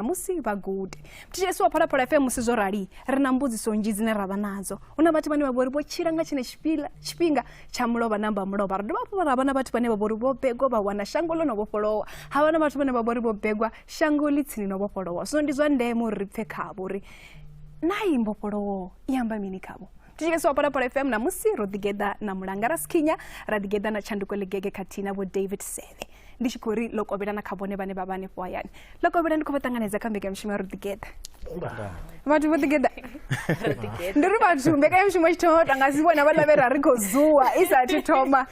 musi vha gude thetshelesi wa phalaphala fm musi zwo rali ri na mbudziso nzhi dzine ra vha nadzo hu na vhathu vhane vha vhori vho tshila nga tshine tshifhinga tsha mulovha namba mulovha ri dovha hafhu ra vha na vhathu vhane vha vhori vho begwa vha wana shango ḽo no vhofholowa ha vha na vhathu vhane vha vhori vho begwa shango ḽi tsini no vhofholowa zwino ndi zwa ndeme uri ri pfe khavho uri na i mbofholowo i amba mini khavho tshike swa para para fm namusi ro ḓigeḓa na mulanga raskinya ra ḓigeḓa na tshanduko ḽigege khathihi na vho david seve ndi tshi khou ri ḽo kovhela na kha vhone vhane vha vha hanefho hayani ḽo kovhela ndi khou vha ṱanganedza kha mbekanyamushumo ya ro ḓigeḓa vhathu vho ḓigeḓa ndi ri vhathu mbekanyamushumo tshi thoma vhathu anga si vhona vha lavhe ra ri khou zuwa i sa thi thoma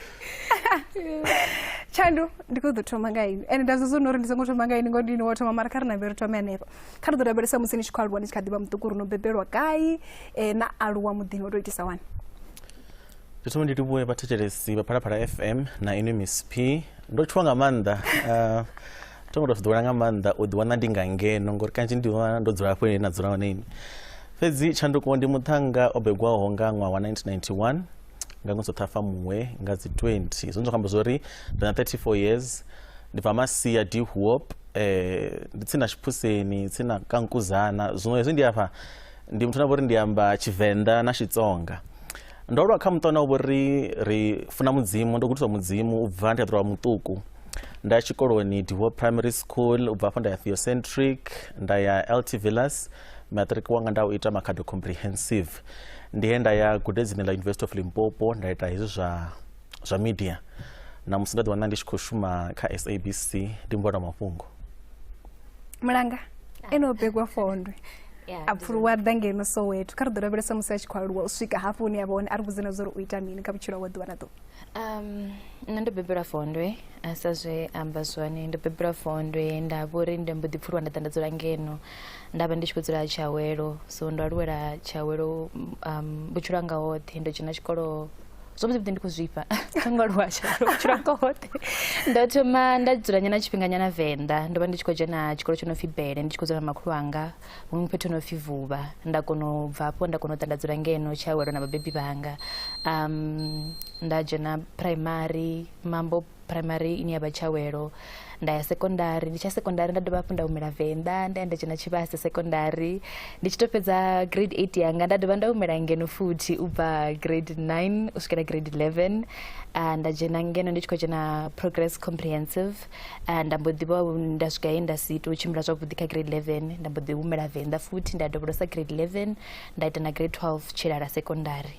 tshandu ndi khou ḓo thoma nga ini ende nda zwo zwo no uri ndi songo thoma nga ini ngo ndini wo thoma mara kha ri nambe ri thome hanefho kha ri ḓo rabelesa musi ni tshi khou aluwa ni tshi kha ḓi vha muṱuku ri no bebelwa gai eh, na aluwa muḓini o tou itisa wani ndi thoma ndi livhuwe vhathetshelesi vha phalaphala fm na inwi miss p ndo tshuwa nga maanḓa uh, thoma tou ḓowela nga maanḓa u ḓiwana ndi nga ngeno ngori kanzhi ndi wana ndo dzula hafho ine na dzula hone ini fhedzi tshanduko ndi muṱhannga o begwaho nga ṅwaha wa 1991 nga ṅwedzi wa ṱhafamuhwe nga dzi 20 zwone zwa khamba zwo ri ndi na 34 years ndi bva masia dihuop um ndi tsini na tshiphuseni tsini na kankuzana zwino hezwi ndi afha ndi muthu na vhori ndi amba tshivenḓa na xitsonga ndo lwa kha muṱa na vhori ri funa mudzimu ndo gudiswa mudzimu u bva ndi a ḓirwa muṱuku nda ya tshikoloni divo primary school u bva afho nda ya theocentric nda ya lt villas matric wanga nda u ita makhado comprehensive ndi he nda ya gudedzini ḽa university of limpopo nda ita hezwi zwa zwa media na musi nda ḓi wana ndi tshi khou shuma kha sabc ndi mvona mafhungo mulanga ene o begwa fondwe a pfuluwa ḓa ngeno soweto kha ri ḓo lavhelesa musi a tshi khou aluwa u swika hafho hune a vha hone a ri vhudze na zwa uri u ita mini kha vhutshilo wa ḓuvha na ḓuvha um, nṋe ndo bebelwa fondwe a sa zwe amba zwone ndo bebelwa fondwe nda vho uri ndi mbo ḓi pfuluwa nda ḓa nda dzula ngeno nda vha ndi tshi khou dzula tshiawelo so ndo aluwela tshiawelo um, vhutshilo anga hoṱhe ndo dzhena tshikolo zwo vha zwi ndi khou zwifha kha nga lwasha vhutshilo hanga hoṱhe ndo thoma nda dzula nyana tshifhinganyana venḓa ndo vha ndi tshi khou dzhena tshikolo tsho no pfi bele ndi tshi khou dzula na makhulu anga huṅwe fhethu no pfi vuvha nda kona u bva afho nda kona u ḓa nda dzula ngeno tshiawelo na vhabebi vhanga um nda dzhena primary mambo primary ine ya vha tshawelo nda ya sekondari ndi tsha sekondari nda dovha hafhu nda humela venḓa nda ya nda dzhena tshivhase sekondari ndi tshi to fhedza grade 8 yanga nda dovha nda humela ngeno futhi u bva grade 9 u swikela grade 11 uh, nda dzhena ngeno ndi tshi khou dzhena progress comprehensive uh, nda mbo ḓivha nda swika he nda si to tshimbila zwavhuḓi kha grade 11 nda mbo ḓi humela venḓa futhi nda dovholosa grade 11 nda ita na grade 12 tshilala sekondari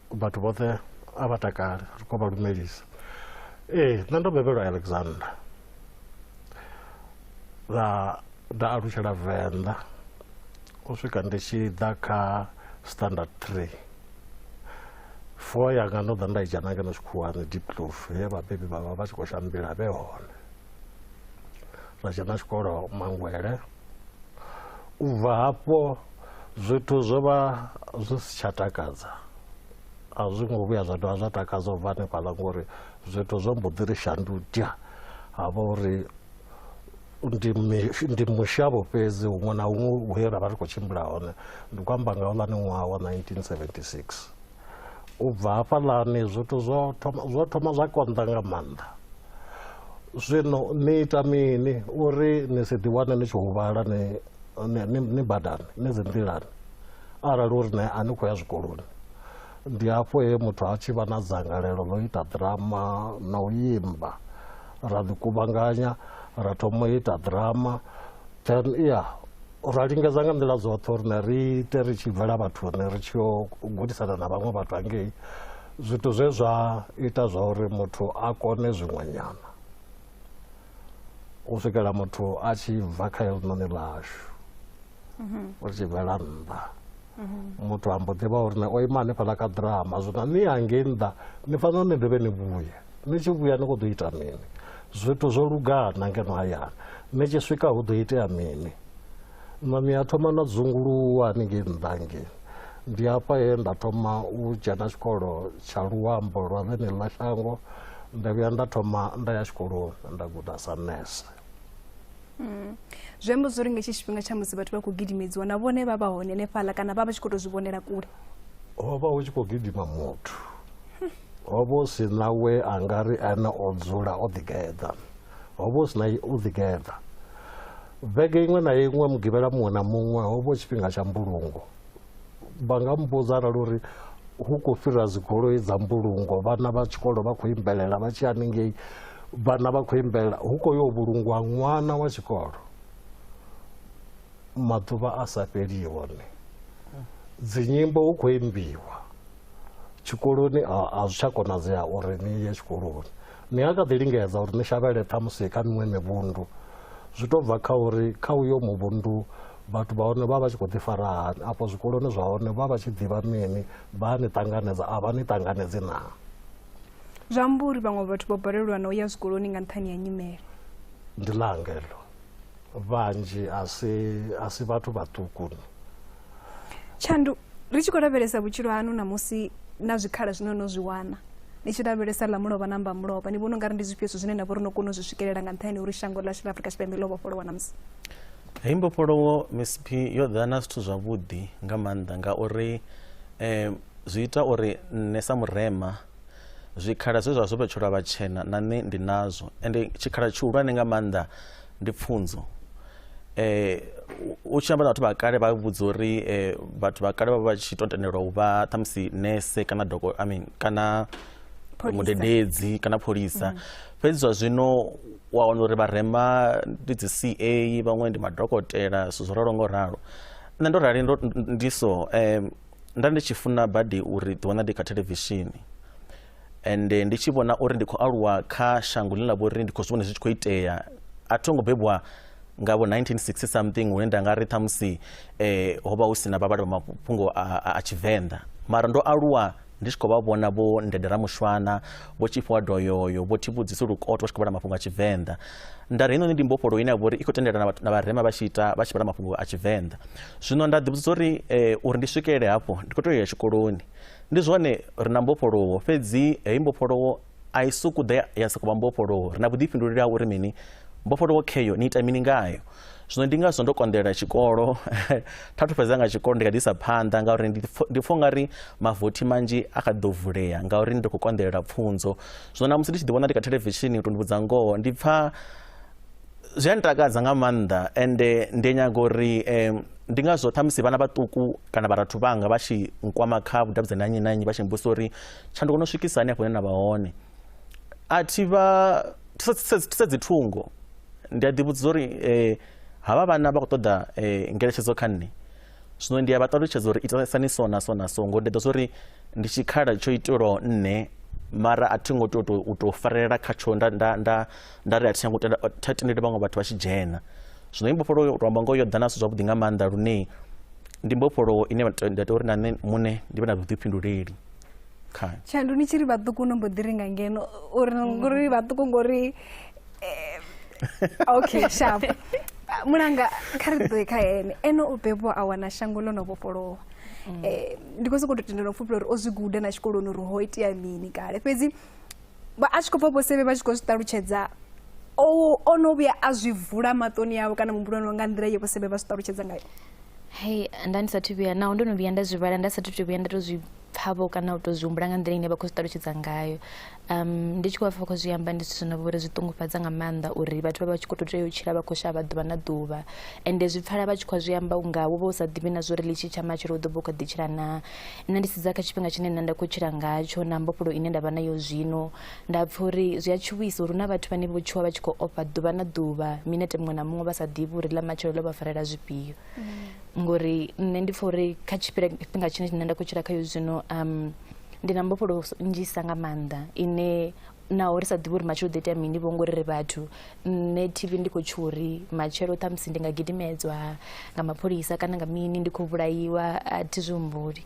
vhathu vhoṱhe a vha takale ri khou vha lumelisa ee nṋe ndo bebelwa alexander ra nda alutshela venḓa u swika ndi tshi ḓa kha standard three four yanga ndo ḓa nda i dzhena ngeno tshikhuwani deep clove he vhabebi vhavha vha tshi khou shambila vhe hone zwa dzhena tshikolo mangwele u bva hafho zwithu zwo vha zwi si tsha takadza a zwi ngo vhuya zwa dovha zwa takadza u bva hanefhaḽa ngori zwithu zwo mbo ḓi ri shandudya ha vha uri ndi mushavho fhedzi huṅwe na huṅwe he ra vha ri khou tshimbila hone ndi khou amba nga houḽani ṅwaha wa 1976 u bva hafhaḽani zwithu zwo thoma zwo thoma zwa konḓa nga maanḓa zwino ni ita mini uri ni si ḓiwane ni tshi huvhala ni ni badani ni dzi nḓilani arali uri ne a ni khou ya zwikoloni ndi hafho he muthu a tshi vha na dzangalelo ḽo ita ḓirama na u imba ra ḓi kuvhanganya ra thoma u ita ḓirama then ya ra lingedza nga nḓila dzoṱhe uri ne ri ite ri tshi bvela vhathu ne ri tshi yo gudisana na vhaṅwe vhathu hangei zwithu zwe zwa ita zwa uri muthu a kone zwiṅwenyana u swikela muthu a tshi bva kha helinoni ḽashu mhm. ri tshi bvela nnḓa mhm. muthu ambo ḓivha uri ne o ima hanefhaḽa ka ḓirama zwino ni hangei nnḓa ni fanela ni dovhe ni vhuye ni tshi vhuya ni khou ḓo ita mini zwithu zwo lugana ngeno hayani ni tshi swika hu ḓo itea mini mami a thoma na dzunguluwa haningei nnḓa ngei ndi hafha he nda thoma u dzhena tshikolo tsha luambo lwa vhene ḽa shango nda vhuya nda thoma nda ya tshikoloni nda guda sa nese mm. zwi amba zwo ri nga tshi tshifhinga tsha musi vhathu vha khou gidimedziwa na vhone vha vha hone hanefhaḽa kana vha vha tshi khou tou zwi vhonela kule ho vha hu tshi khou gidima muthu Ho vha hu si na we a nga ri ene o dzula o ḓigeḓa. Ho vha hu si na u ḓigeḓa. Vhege iṅwe na iṅwe mugivhela muṅwe na muṅwe ho vha hu tshifhinga tsha mbulungo. Vha nga mbudza arali uri hu khou fhira dzigoloi dza mbulungo vhana vha tshikolo vha khou imbelela vha tshi haningei vhana vha khou imbelela hu khou yo vhulungwa ṅwana wa tshikolo maḓuvha a sa fheli hone dzinyimbo hu khou imbiwa tshikoloni a zwi tsha konadzea uri ni ye tshikoloni ni a kha ḓi lingedza uri ni shavhele ṱhamusi kha miṅwe mivhundu zwi to bva kha uri kha uyo muvhundu vhathu vha hone vha vha tshi khou ḓifara hani afho zwikoloni zwa hone vha vha tshi ḓivha mini vha ni ṱanganedza a vha ni ṱanganedzi naa zwi amba uri vhaṅwe vhathu vho balelwa na u ya zwikoloni nga nṱhani ya nyimele ndi langelo vhanzhi a si a si vhathu vhaṱukuni tshandu ri tshi khou lavhelesa vhutshilo hanu namusi na zwikhala zwine no zwi wana ni tshi lavhelesa ḽa mulovha na mba mulovha ni vhona u nga ri ndi zwifhio zwithu zwine na vha uri no kona u zwi swikelela nga nṱhani uri shango ḽashu ḽa afrika tshipembe ḽo vhofholowa na musi heyi mbofholowo msp yo ḓa na zwithu zwavhuḓi nga maanḓa ngauri um zwi ita uri nṋe sa murema zwikhala zwe zwa zwo vhetshelwa vhatshena na nṋe ndi nazwo ende tshikhala tshihulwane nga maanḓa ndi pfunzo eh u tshi amba na vhathu vha kale vha vhudza uri eh, vhathu vha kale vha vha tshi to tendelwa u vha ṱhamusi nese kana doko i mean kana mudededzi kana pholisa mm. fhedzi zwa zwino wa wana uri vharema ndi dzi c a vhaṅwe ndi madokotela zwithu zwo ralo ngo ralo nṋe ndo rali ndi so um nda ndi tshi funa badi uri ḓiwana ndi kha thelevishini ende ndi tshi vhona uri ndi khou aluwa kha shango ḽine ḽa vha uri ndi khou zwi vhona zwi tshi khou itea a tho ngo bebwa nga vho 1960 something hune nda nga ri ṱhamusi eh, ho vha hu si na vhavhali vha mafhungo a tshivenḓa mara ndo aluwa ndi tshi khou vha vhona vho ndedera mushwana vho tshifhiwa doyoyo vho thivhudzisa lukoto vha tshi khou vhala mafhungo a tshivenḓa nda ri heinoni ndi mbofholo ine ya vha uri i khou tendelana na vharema vha tshi ita vha tshi vhala mafhungo a tshivenḓa zwino nda ḓivhudza uri eh, uri ndi swikelele hafho ndi khou tea u ya tshikoloni ndi zwone ri na mbofholowo fhedzi heyi mbofholowo a i suku ḓa ya- ya sokou vha mbofholowo ri na vhuḓifhinduleli ha uri mini mbofholowo kheyo ni ita mini ngayo zwino ndi ngazwo ndo konḓelela tshikolo tha thu fhedza nga tshikolo ndi kha ḓi isa phanḓa ngauri ndi pfo- ndi pfha ungari mavothi manzhi a kha ḓi ḓo vulea ngauri ndi khou konḓelela pfunzo zwino namusi ndi tshi ḓi vhona ndi kha thelevishini u to ndi vhudza ngoho ndi pfha zwi a ntakadza nga maanḓa ende ndi nyaga uri um ndi ngazwo ṱhamusi vhana vhaṱuku kana vharathu vhanga vha tshi nkwama kha vhudavhidzani ha nnyi na nnyi vha tshi mbusa uri tshanduko no swikisa hani afho hune na vha hone a thi vha thise dzi thungo ndi a ḓivhudza uri um havha vhana vha khou ṱoḓa um ngeletshedzo kha nṋe zwino ndi a vha ṱalutshedza uri itasani so na so na so ngori ndi ḓo zwa uri ndi tshikhala tsho itelwaho nṋe mara a thi ngo tea u tou farelela khatsho nda nda nda nda ri a thi tsha ngo tenda tha tendele vhaṅwe vhathu vha tshi dzhena zwino imbofholowo u tou amba ngoho yo ḓa na zwithu zwavhuḓi nga maanḓa lune ndi mbofholowo ine nda tea uri na nṋe muṋe ndi vhe na vhuḓifhinduleli khayo tshandu ni tshi ri vhaṱuku no mbo ḓi ringa ngeno uri ngori vhaṱuku ngori eh, okay sharp mulanga kha ri ḓoe kha ene ene o bebwa a wana shango ḽo no vhofholowa um ndi khou sokou tou tendela u pfhufhela uri o zwi guda na tshikoloni uri ho itea mini kale fhedzi vha a tshi khou pfa vhosevhe vha tshi khou zwi ṱalutshedza o no vhuya a zwi vula maṱoni awe kana muhumbuloni wa nga nḓila ye vhosevhe vha zwi ṱalutshedza ngayo hei nda ndi sathu vhuya naho ndo no vhuya nda zwi vhala nda sathu to vhuya nda to zwi pfhavho kana u to zwi humbula nga nḓila ine vha khou zwi ṱalutshedza ngayo um ndi tshi khou vha pfa vha khou zwi amba ndi zwithu zwino vhori zwi ṱungufhadza nga maanḓa uri vhathu vha vha tshi khou to tea u tshila vha khou shavha ḓuvha na ḓuvha ende zwi pfala vha tshi khou zwi amba unga wo vha u sa ḓivhi na zwa uri ḽitshi tsha matshelo u ḓo vha u kha ḓi tshila naa nṋe ndi sedza kha tshifhinga tshine nṋe nda khou tshila ngatsho na mbofholo ine nda vha nayo zwino nda pfha uri zwi a tshuwisa uri hu na vhathu vhane vho tshuwa vha tshi khou ofha ḓuvha na ḓuvha minete muṅwe na muṅwe vha sa ḓivhi uri ḽa matshelo ḽo vha farela zwifhio mm. ngori nṋe ndi pfha uri kha tshifhinga tshine nṋe nda khou tshila khayo zwino um ndi na mbofholo nnzhisa nga maanḓa ine naho ri sa ḓivhi uri matshelo ḓo itea mini vho ngori ri vhathu nṋe tv ndi khou tshuwa uri matshelo ṱhamusi ndi nga gidimedzwa nga mapholisa kana nga mini ndi khou vhulaiwa a thi zwi humbuli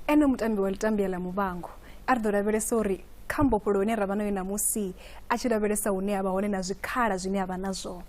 ene mutambi wa litambia ḽa muvhango a ri ḓo lavhelesa uri kha mbofholo ine ra vha nayo ṋamusi a tshi lavhelesa hune a vha hone na zwikhala zwine a vha nazwo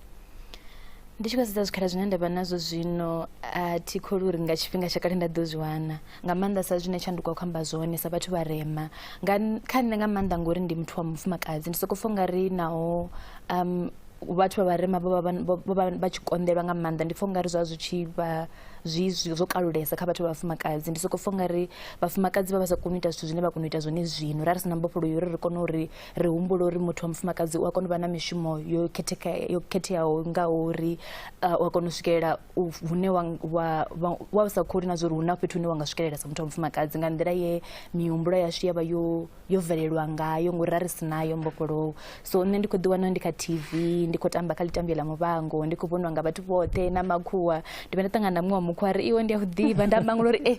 ndi tshi khou sedza zwikhala zwine nda vha nazwo zwino a thi kholi uri nga tshifhinga tsha kale nda ḓo zwi wana nga maanḓa sa zwine tshanduko a khou amba zwone sa vhathu vharema nga kha nṋe nga maanḓa ngori ndi muthu wa mufumakadzi ndi sokou pfha nga ri naho um vhathu vha vharema vho vha vha tshi konḓelwa nga maanḓa ndi pfha ungari zwa zwi tshi vha zwi zwo kalulesa kha vhathu vha vhafumakadzi ndi sokou pfha ungari vhafumakadzi vha vha sa koni u ita zwithu zwine vha kona u ita zwone zwino ra ri si na mbofholo yo uri ri kone uri ri humbule uri muthu wa mufumakadzi u a kona u vha na mishumo yo khetheka yo khetheaho ngaho uri u a kona u swikelela hune wa sa kholi na zwa uri hu na fhethu hune wa nga swikelela sa muthu wa mufumakadzi nga nḓila ye mihumbulo yashu ya vha yo yo bvelelwa ngayo ngori ra ri si nayo mbofholowo so nṋe ndi khou ḓiwana ndi kha tv ndi khou tamba kha ḽitambio ḽa muvhango ndi khou vhoniwa nga vhathu vhoṱhe na makhuwa ndi vhe nda ṱangana na muṅwe wa mukhuwa ri iwe ndi a u ḓivha nda mangula uri e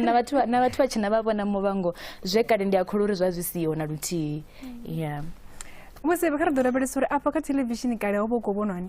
na vhathu na vhathu vha tshina vha vhona muvhango zwe kale ndi a kholwa uri zwa zwi siho na luthihi ya musi kha ri ḓo lavhelesa uri afha kha theḽevishini kale ho vha u khou vhonwani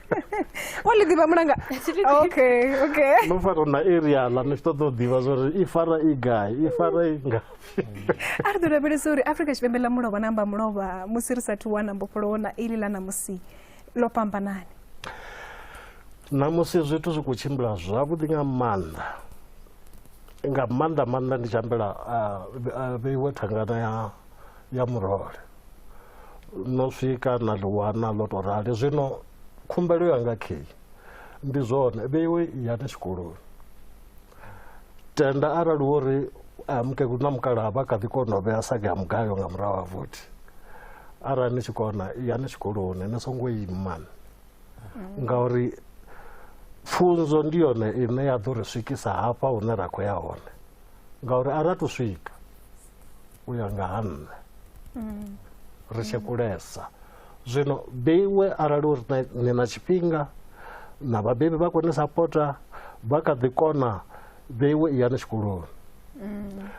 wali ḓivha mulanga okay okay no fara na area la ni ṱoḓa u ḓivha zwa uri i fara i gai i fara i nga a ri ḓo lavhelesa uri afrika tshipembe ḽa mulovha na amba mulovha musi ri sathu wana mbofholowo na ili ḽa ṋamusi ḽo fhambanani ṋamusi zwithu zwi khou tshimbila zwavhuḓi nga maanḓa nga maanḓa maanḓa ndi tshi ambela vheiwe thangana ya ya murole no swika na ḽi wana ḽo to rali zwino khumbelo yanga kheyi ndi zwone vheiwe yani tshikoloni tenda arali wo ri mukegulu na mukalaha vha kha ḓi kona u vhea sage ya mugayo nga murahu ha vothi arali ni tshi kona yani tshikoloni ni songo ima ngauri pfunzo ndi yone ine ya ḓo ri swikisa hafha hune ra khou ya hone ngauri a ra to swika u ya nga ha nṋe mm. ri tshi kulesa zwino beiwe arali uri ni na tshifhinga na vhabebi vha kone sapota vha kha ḓi kona beiwe i yani tshikoloni mm.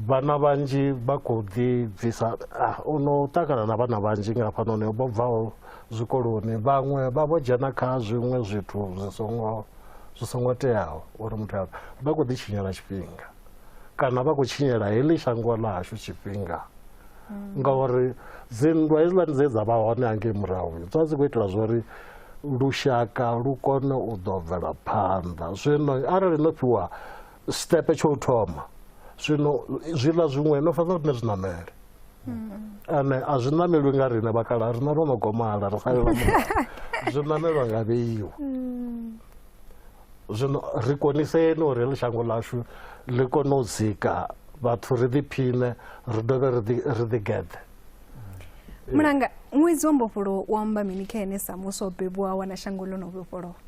vhana vhanzhi vha khou ḓi bvisa ah, u no ṱangana na vhana vhanzhi nga hafhanoni vho bvaho zwikoloni vhaṅwe vha vho dzhena kha zwiṅwe zwithu zwi songo zwi songo teaho uri muthu a vha khou ḓitshinyela tshifhinga kana vha khou tshinyela heḽi shango ḽa hashu tshifhinga mm. ngauri dzinndwa hezwiḽani dze dza vha hone hangei murahu dza dzi khou itela zwa uri lushaka lu kone u ḓo bvela phanḓa zwino arali no fhiwa sitepe tsho u thoma zwino zwiḽa zwiṅwe no fana rine zwiṋamele ane a zwi ṋamelwi nga rine vhakala a rina ro no gomala ri salelwa zwi ṋamelwa nga vheiwa zwino ri koniseni uri ḽi shango ḽashu ḽi kone u dzika vhathu ri ḓiphine ri dovhe ri ḓigeḓe mulanga ṅwedzi wa mbofholowo u amba mini kha ene sa muswa o bebiwaho na shango ḽo no vhofholowa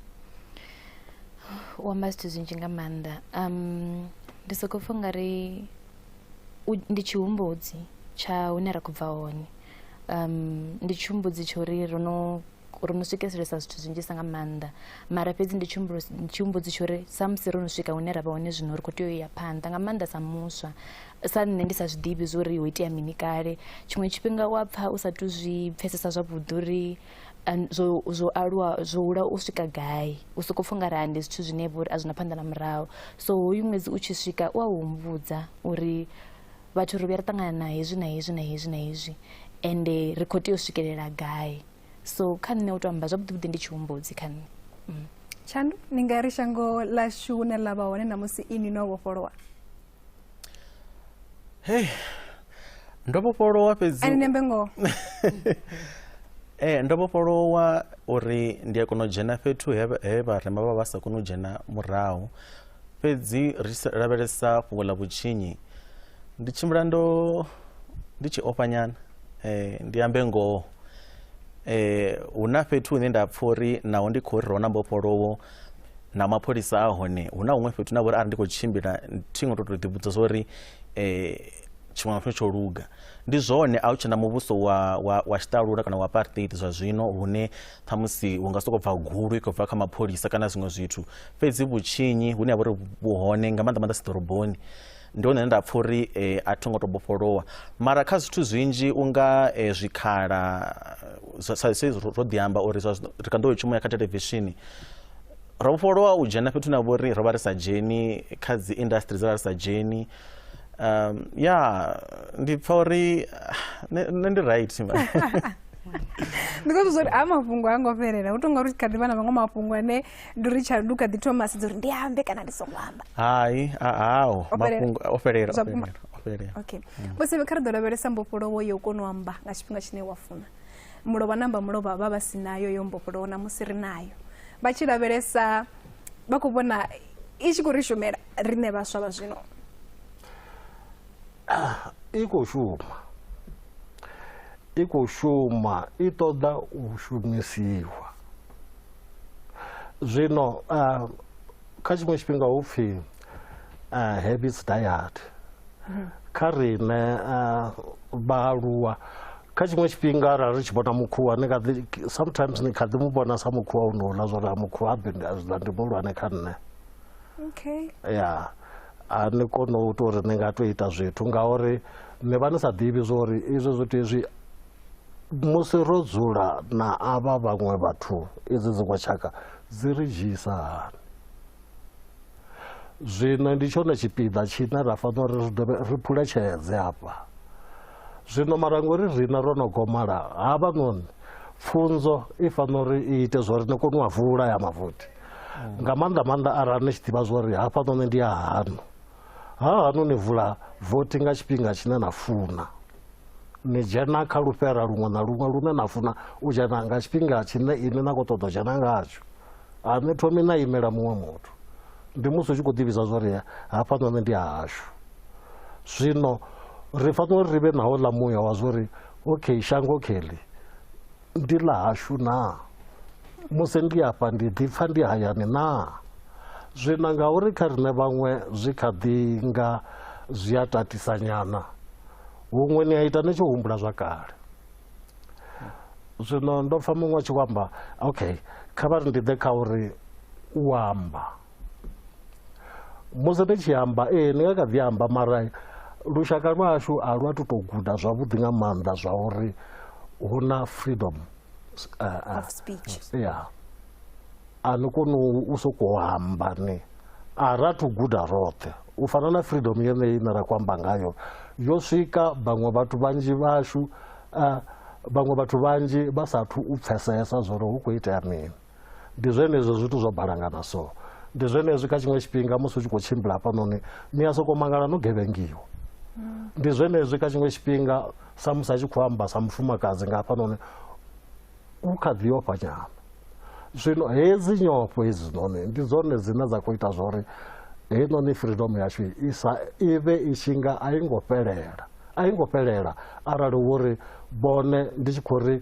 u amba zwithu zwinzhi nga maanḓa um ndi soko pfha ungari ndi tshihumbudzi tsha hune ra khou bva hone um ndi tshihumbudzi tsho ri ro no ro no swikeselesa zwithu zwinzhisa nga maanḓa mara fhedzi ndi tshihumbudzi tsho ri samusi ro no swika hune ra vha hone zwino ri khou tea u ya phanḓa nga maanḓa sa muswa sa nṋe ndi sa zwi ḓivhi zwo ri ho itea mini kale tshiṅwe tshifhinga u a pfha u sa tu zwi pfhesesa zwavhuḓi uri zwo zwo aluwa zwo hula u swika gai u soko pfha ungari ndi zwithu zwine vho uri a zwina phanḓa na murahu so hoyu ṅwedzi u tshi swika u a humbudza uri vhathu ri vhuya ri ṱangana na hezwi na hezwi na hezwi na hezwi ende ri khou tea u swikelela gai so kha nṋe u to amba zwavhuḓi vhuḓi ndi tshihumbudzi kha nṋe mm. tshandu ni nga ri shango ḽashu hune ḽa vha hone na musi inwi no vhofholowa hey ndo vhofholowa fhedzi ani nembe ngoho eh ndo vhofholowa uri ndi a kona u dzhena fhethu he vha- he vharema vha vha sa koni u dzhena murahu fhedzi ri sa- lavhelesa fhungo ḽa vhutshinyi ndi tshimbila ndo ndi tshi ofha nyana eh ndi ambe ngoho eh hu na fhethu hune nda pfha uri naho ndi khou ri ro na mbofholowo na mapholisa a hone hu na huṅwe fhethu na vhori arali ndi khou tshimbila thi ngo to to ḓivhudza zwa uri eh, tshiṅwe na tshiṅwe tsho luga ndi zwone a hu tshena muvhuso wa, wa, wa tshiṱalula kana wa apartheid zwa zwino hune ṱhamusi hu nga sokou bva gulu i khou bva kha mapholisa kana zwiṅwe zwithu fhedzi vhutshinyi hune ha vha uri vhuhone nga maanḓa maanḓa si ḓoroboni ndi hone nda pfha uri eh, a tho ngo to bofholowa mara kha zwithu zwinzhi unga eh, zwikhala zwa- sa sa izwi ro ḓi amba uri zwa zwino ri kha ḓo tshumela kha televishini ro vhofholowa u dzhena fhethu na vhori ro vha ri sa dzheni kha dzi industry dza vha ri sa dzheni um, ya ndi pfha uri ah, nṋe nṋe ndi right ndi khou zwa uri a mafhungo ha ngo fhelela hu tonga uri kha ḓi vha na maṅwe mafhungo ane ndi uri tsha ndu kha ḓi thoma sedza uri ndi ambe kana ndi songo amba hai ao mafhungo o fhelela okay mm. musi kha ri ḓo lavhelesa mbofholowo yo kona u amba nga tshifhinga tshine wa funa mulovha namba mulovha vha vha si nayo yo mbofholowo na musi ri nayo vha tshi lavhelesa vha khou vhona i tshi khou ri shumela riṋe vhaswa vha zwino ah, i khou shuma i khou shuma i ṱoḓa u shumisiwa zwino uh, kha tshiṅwe tshifhinga hu pfhi uh, habits diet mhm. kha rine uh, vhaaluwa kha tshiṅwe tshifhinga ra ri tshi vhona mukhuwa ni kha ḓi sometimes ni kha ḓi mu vhona sa mukhuwa u no ḽa zwori a mukhuwa a bindi a zwi ḽa ndi muhulwane kha nṋe okay ya a ni kone u tou ri ni nga tou ita zwithu ngauri ni vha ni sa ḓivhi zwori izwo zwithu izwi musi ro dzula na avha vhaṅwe vhathu idzi dziṅwe tshaka dzi ri dzhiisa hani zwino ndi tshone tshipiḓa tshine ra fanela uri ri dovhe ri phuletshedze afha zwino mara ngori riṋe ro no gomala havha noni pfunzo i fanela uri i ite zwa uri ni kone u a vula ya mavothi nga maanḓa maanḓa arali ni tshi ḓivha zwa uri hafha noni ndi a hanu Ha hanu ni vula vothi nga tshifhinga tshine na funa. Ni dzhena kha lufhera luṅwe na luṅwe lune na funa u dzhena nga tshifhinga tshine ini na khou ṱoḓa u dzhena ngatsho. A ni thomi na imela muṅwe muthu. Ndi musi u tshi khou ḓivhisa zwa uri hafhanoni ndi hashu. Zwino ri fanela uri ri vhe na houḽa muya wa zwa uri okay shango kheḽi Ndi ḽa hashu naa? Musi ndi afha ndi ḓipfa ndi hayani naa? Zwino ngauri kha riṋe vhaṅwe zwi kha ḓi nga zwi a tatisanyana, huṅwe ni a ita ni tshi humbula zwa kale. Zwino ndo pfa muṅwe a tshi khou amba, okay, kha vha ri ndi ḓe kha uri u amba. musi ri tshi amba ee ni nga kha ḓi amba mara lushaka lwashu a lwa tu tou guda zwavhuḓi nga maanḓa zwa uri hu na freedom uh, of speech ya a ni koni u sokou amba ni a ra thu guda roṱhe u fana na freedom yeneyi ine ra khou amba ngayo yo swika vhaṅwe vhathu vhanzhi vhashu uh, vhaṅwe vhathu vhanzhi vha sathu u pfesesa zwori hu khou itea mini ndi zwenezwo zwithu zwo balangana so ndi zwenezwi kha tshiṅwe tshifhinga musi u tshi khou tshimbila hafhanoni ni a sokou mangala no gevhengiwa ndi zwenezwi kha tshiṅwe tshifhinga samusi a tshi khou amba sa mufumakadzi nga hafhanoni u kha ḓi ofha nyana zwino hedzi nyofho hedzinoni ndi dzone dzine dza khou ita zwori heinoni freedom yashu isa i vhe i tshi nga a i ngo fhelela a i ngo fhelela arali wo ri vhone ndi tshi khou ri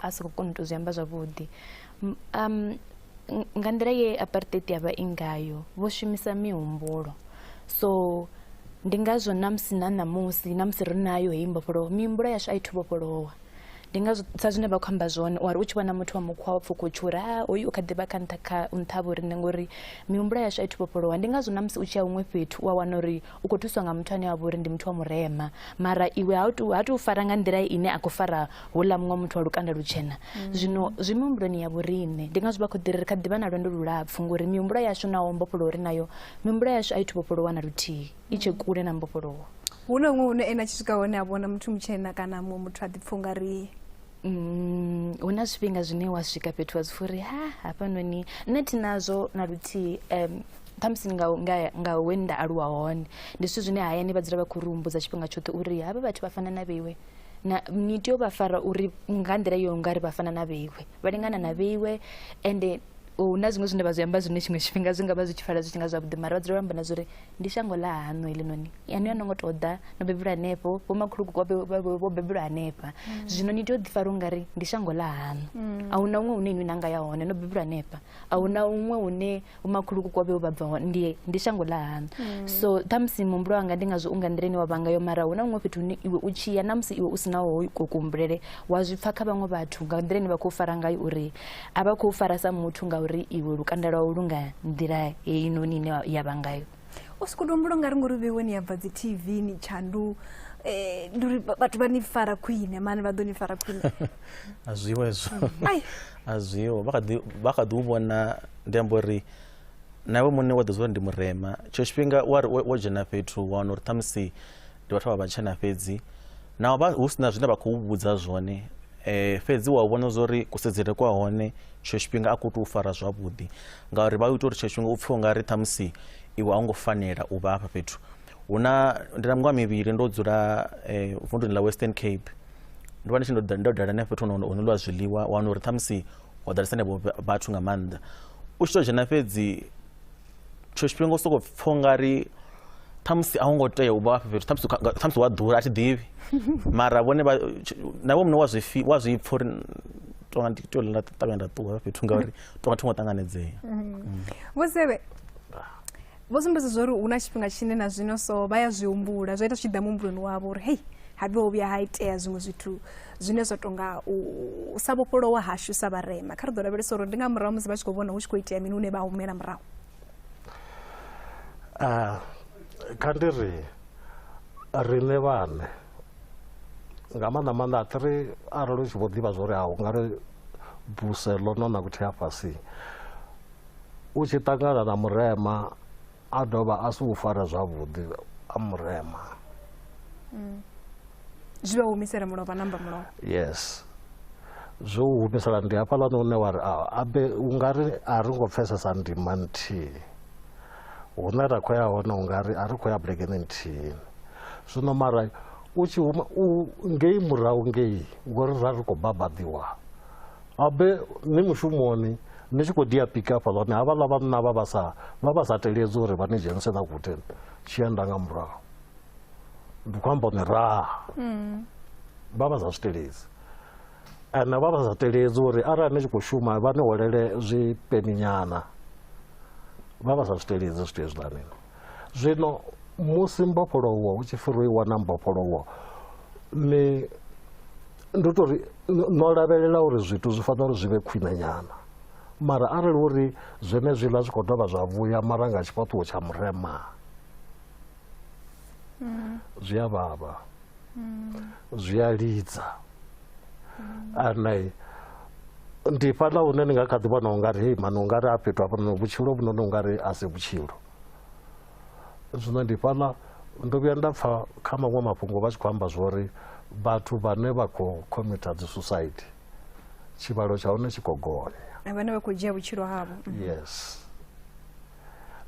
a si khou kona u tou zwi amba zwavhuḓi um nga nḓila ye apartheid ya vha i ngayo vho shumisa mihumbulo so ndi ngazwo na musi na ṋamusi na musi ri nayo heyi mbofholowo mihumbulo yashu a i thu vhofholowa ndi nga sa zwine vha khou amba zwone wari u tshi vhona muthu wa mukhwa wa pfuka u tshi uri ha hoyu u kha ḓivha kha nṱha kha nṱha vho riṋe ngori mihumbulo yashu a i thu vhofholowa ndi ngazwo na musi u tshi ya huṅwe fhethu u a wana uri u khou thuswa nga muthu ane a vha uri ndi muthu wa murema mara iwe ha tu ha tu fara nga nḓila ine a khou fara houḽa muṅwe muthu wa lukanda lutshena mm. zwino zwi mihumbuloni ya vhoriṋe ndi ngazwo vha khou ḓiri ri kha ḓivha na lwendo lulapfhu ngori mihumbulo yashu naho mbofholowo ri nayo mihumbulo yashu a i thu vhofholowa na luthihi i tshe mm. kule na mbofholowo hu na huṅwe hune ene a tshi swika hone a vhona muthu mutshena kana muṅwe muthu a ḓipfha u nga ri Mm, hu na zwifhinga zwine wa swika fhethu wa zwi fha uri ha hafhanoni nṋe thi nazwo na luthihi um khamusi nga nga nga we nda aluwa hone ndi zwithu zwine hayani vha dzula vha khou ri humbudza tshifhinga tshoṱhe uri havha vhathu vha fana na vheiwe na ni tea u vha fara uri nga nḓila yo nga ri vha fana na vheiwe vha lingana na vheiwe ende hu na zwiṅwe zwine vha zwi amba zwine tshiṅwe tshifhinga zwi nga vha zwi tshi pfala zwi tshi nga zwavhuḓi mara vha dzula vha amba na zwa uri ndi shango ḽa haṋu heḽinoni yani a no ngo tou ḓa no bebelwa hanefho vhomakhulukuku vho bebelwa hanefha mm. zwino ni tea u ḓifara u nga ri ndi shango ḽa haṋu mm. a hu na huṅwe hune inwi na nga ya hone no bebelwa hanefha a hu na huṅwe hune vhomakhulukuku vha vhe vha bva hone ndi, ndi shango ḽa haṋu mm. so ṱhamusi muhumbulo wanga ndi ngazwo u nga nḓila ine wa vhanga yo mara hu na huṅwe fhethu hune iwe u tshi ya na musi iwe u si naho ko kuhumbulele wa zwi pfa kha vhaṅwe vhathu nga nḓila ine vha khou fara ngayo uri a vha khou fara sa muthu ngauri iwe lukanda lwau lu nga nḓila heinoni ine ya vha ngayo u si khou tou mbula nga ri ngori vhewe ni ya bva dzi tv ni tshandu eh, ndi uri ba- vhathu vha ni fara khwine mani vha ḓo ni fara khwine a zwiho hezwo Ai. a zwiho vha kha ḓi- vha kha ḓi u vhona ndi amba uri na iwe muṋe wa ḓi zwa uri ndi murema tshiṅwe tshifhinga wa ri wo- wo dzhena fhethu wa wana uri ṱhamusi ndi vhathu vha vhatshena fhedzi naho vha hu si na zwine vha khou vhudza zwone eh fhedzi wa vhona zwori kusedzele kwa hone tsho tshifhinga a ku tou fara zwavhuḓi ngauri vha u ita uri tsho tshifhinga u pfhe unga ri ṱhamusi iwe a u ngo fanela u vha hafha fhethu hu na ndi na miṅwaha mivhili ndo dzula eh vunduni ḽa western cape ndo vha ndi tshi ndo ḓa- ndo dala na fhethu hono hono lwa zwiḽiwa wana uri ṱhamusi ho ḓalesa nevho vhathu nga maanḓa u tshi to dzhena fhedzi tshiṅwe tshifhinga u sokou pfha ungari ṱhamusi a hu ngo tea u vha hafha fhethu ṱhamusi uka- ṱhamusi wa ḓura a thi ḓivhi mara vhone vha- tsh- na iwe muṋe wa zwi fi- wa zwi pfha uri tonga ndi tea uri nda ṱavhanya nda ṱuwa hafha fhethu ngauri tonga thi ngo ṱanganedzea vho sebe vho sumbedza zwa uri hu na tshifhinga tshine na zwino so vha ya zwi humbula zwa ita zwi tshi ḓa muhumbuloni wavho uri hei habe ho vhuya ha itea zwiṅwe zwithu zwine zwa tou nga u sa vhofholowa hashu sa vharema kha ri ḓo lavhelesa uri ndi nga murahu musi vha tshi khou vhona hu tshi khou itea mini hune vha humela murahu ah, kha ndi ri riṋe vhane nga maanḓa maanḓa a tiri arali u tshi vho ḓivha zwo ri a u nga ri buse ḽo no na vhuthiafhasi u tshi ṱangana na murema a dovha a si u fara zwavhuḓi a murema mm. zwi vha humisela mulovha namba mulovha yes zwo u humisela ndi hafhaḽani une wa ri abe u nga ri a ri ngo pfesesa ndima nthihi hune ra khou ya hone u nga ri a ri khou ya bulekeni nthihi zwino mara u tshi huma u ngei murahu ngei ngori ra ri khou babaḓiwa abe ni mushumoni Ni tshi khou dia pika hafhaḽani, havhaḽa vhanna vha vha sa vha vha sa teledzi uri vha ni dzhenise na guten tshi enda nga murahu. Ndi khou amba ni raha. Mm. Vha vha sa zwi teledzi. Ane vha vha sa teledzi uri arali ni tshi khou shuma vha ni holele zwipeninyana. Vha vha sa zwi teledzi zwithu hezwiḽani. Zwino musi mbofholowo hu tshi pfi ro i wana mbofholowo ni ndi tou ri no lavhelela uri zwithu zwi fanela uri zwi vhe khwine nyana mara arali uri zwenezwiḽa zwi khou dovha zwa vhuya mara nga tshifhaṱuwo tsha murema zwi a vhavha zwi a lidza ane ndi fhaḽa hune ni nga kha ḓi vhona ungari hei mani ungari a fhethu hafhanoni vhutshilo vhunoni ungari a si vhutshilo zwino ndi fhaḽa ndo vhuya nda pfa kha maṅwe mafhungo vha tshi khou amba zwori vhathu vhane vha khou khomitha dzi suicide tshivhalo tsha hone tshi khou gonya vhane vha khou dzhia vhutshilo havho yes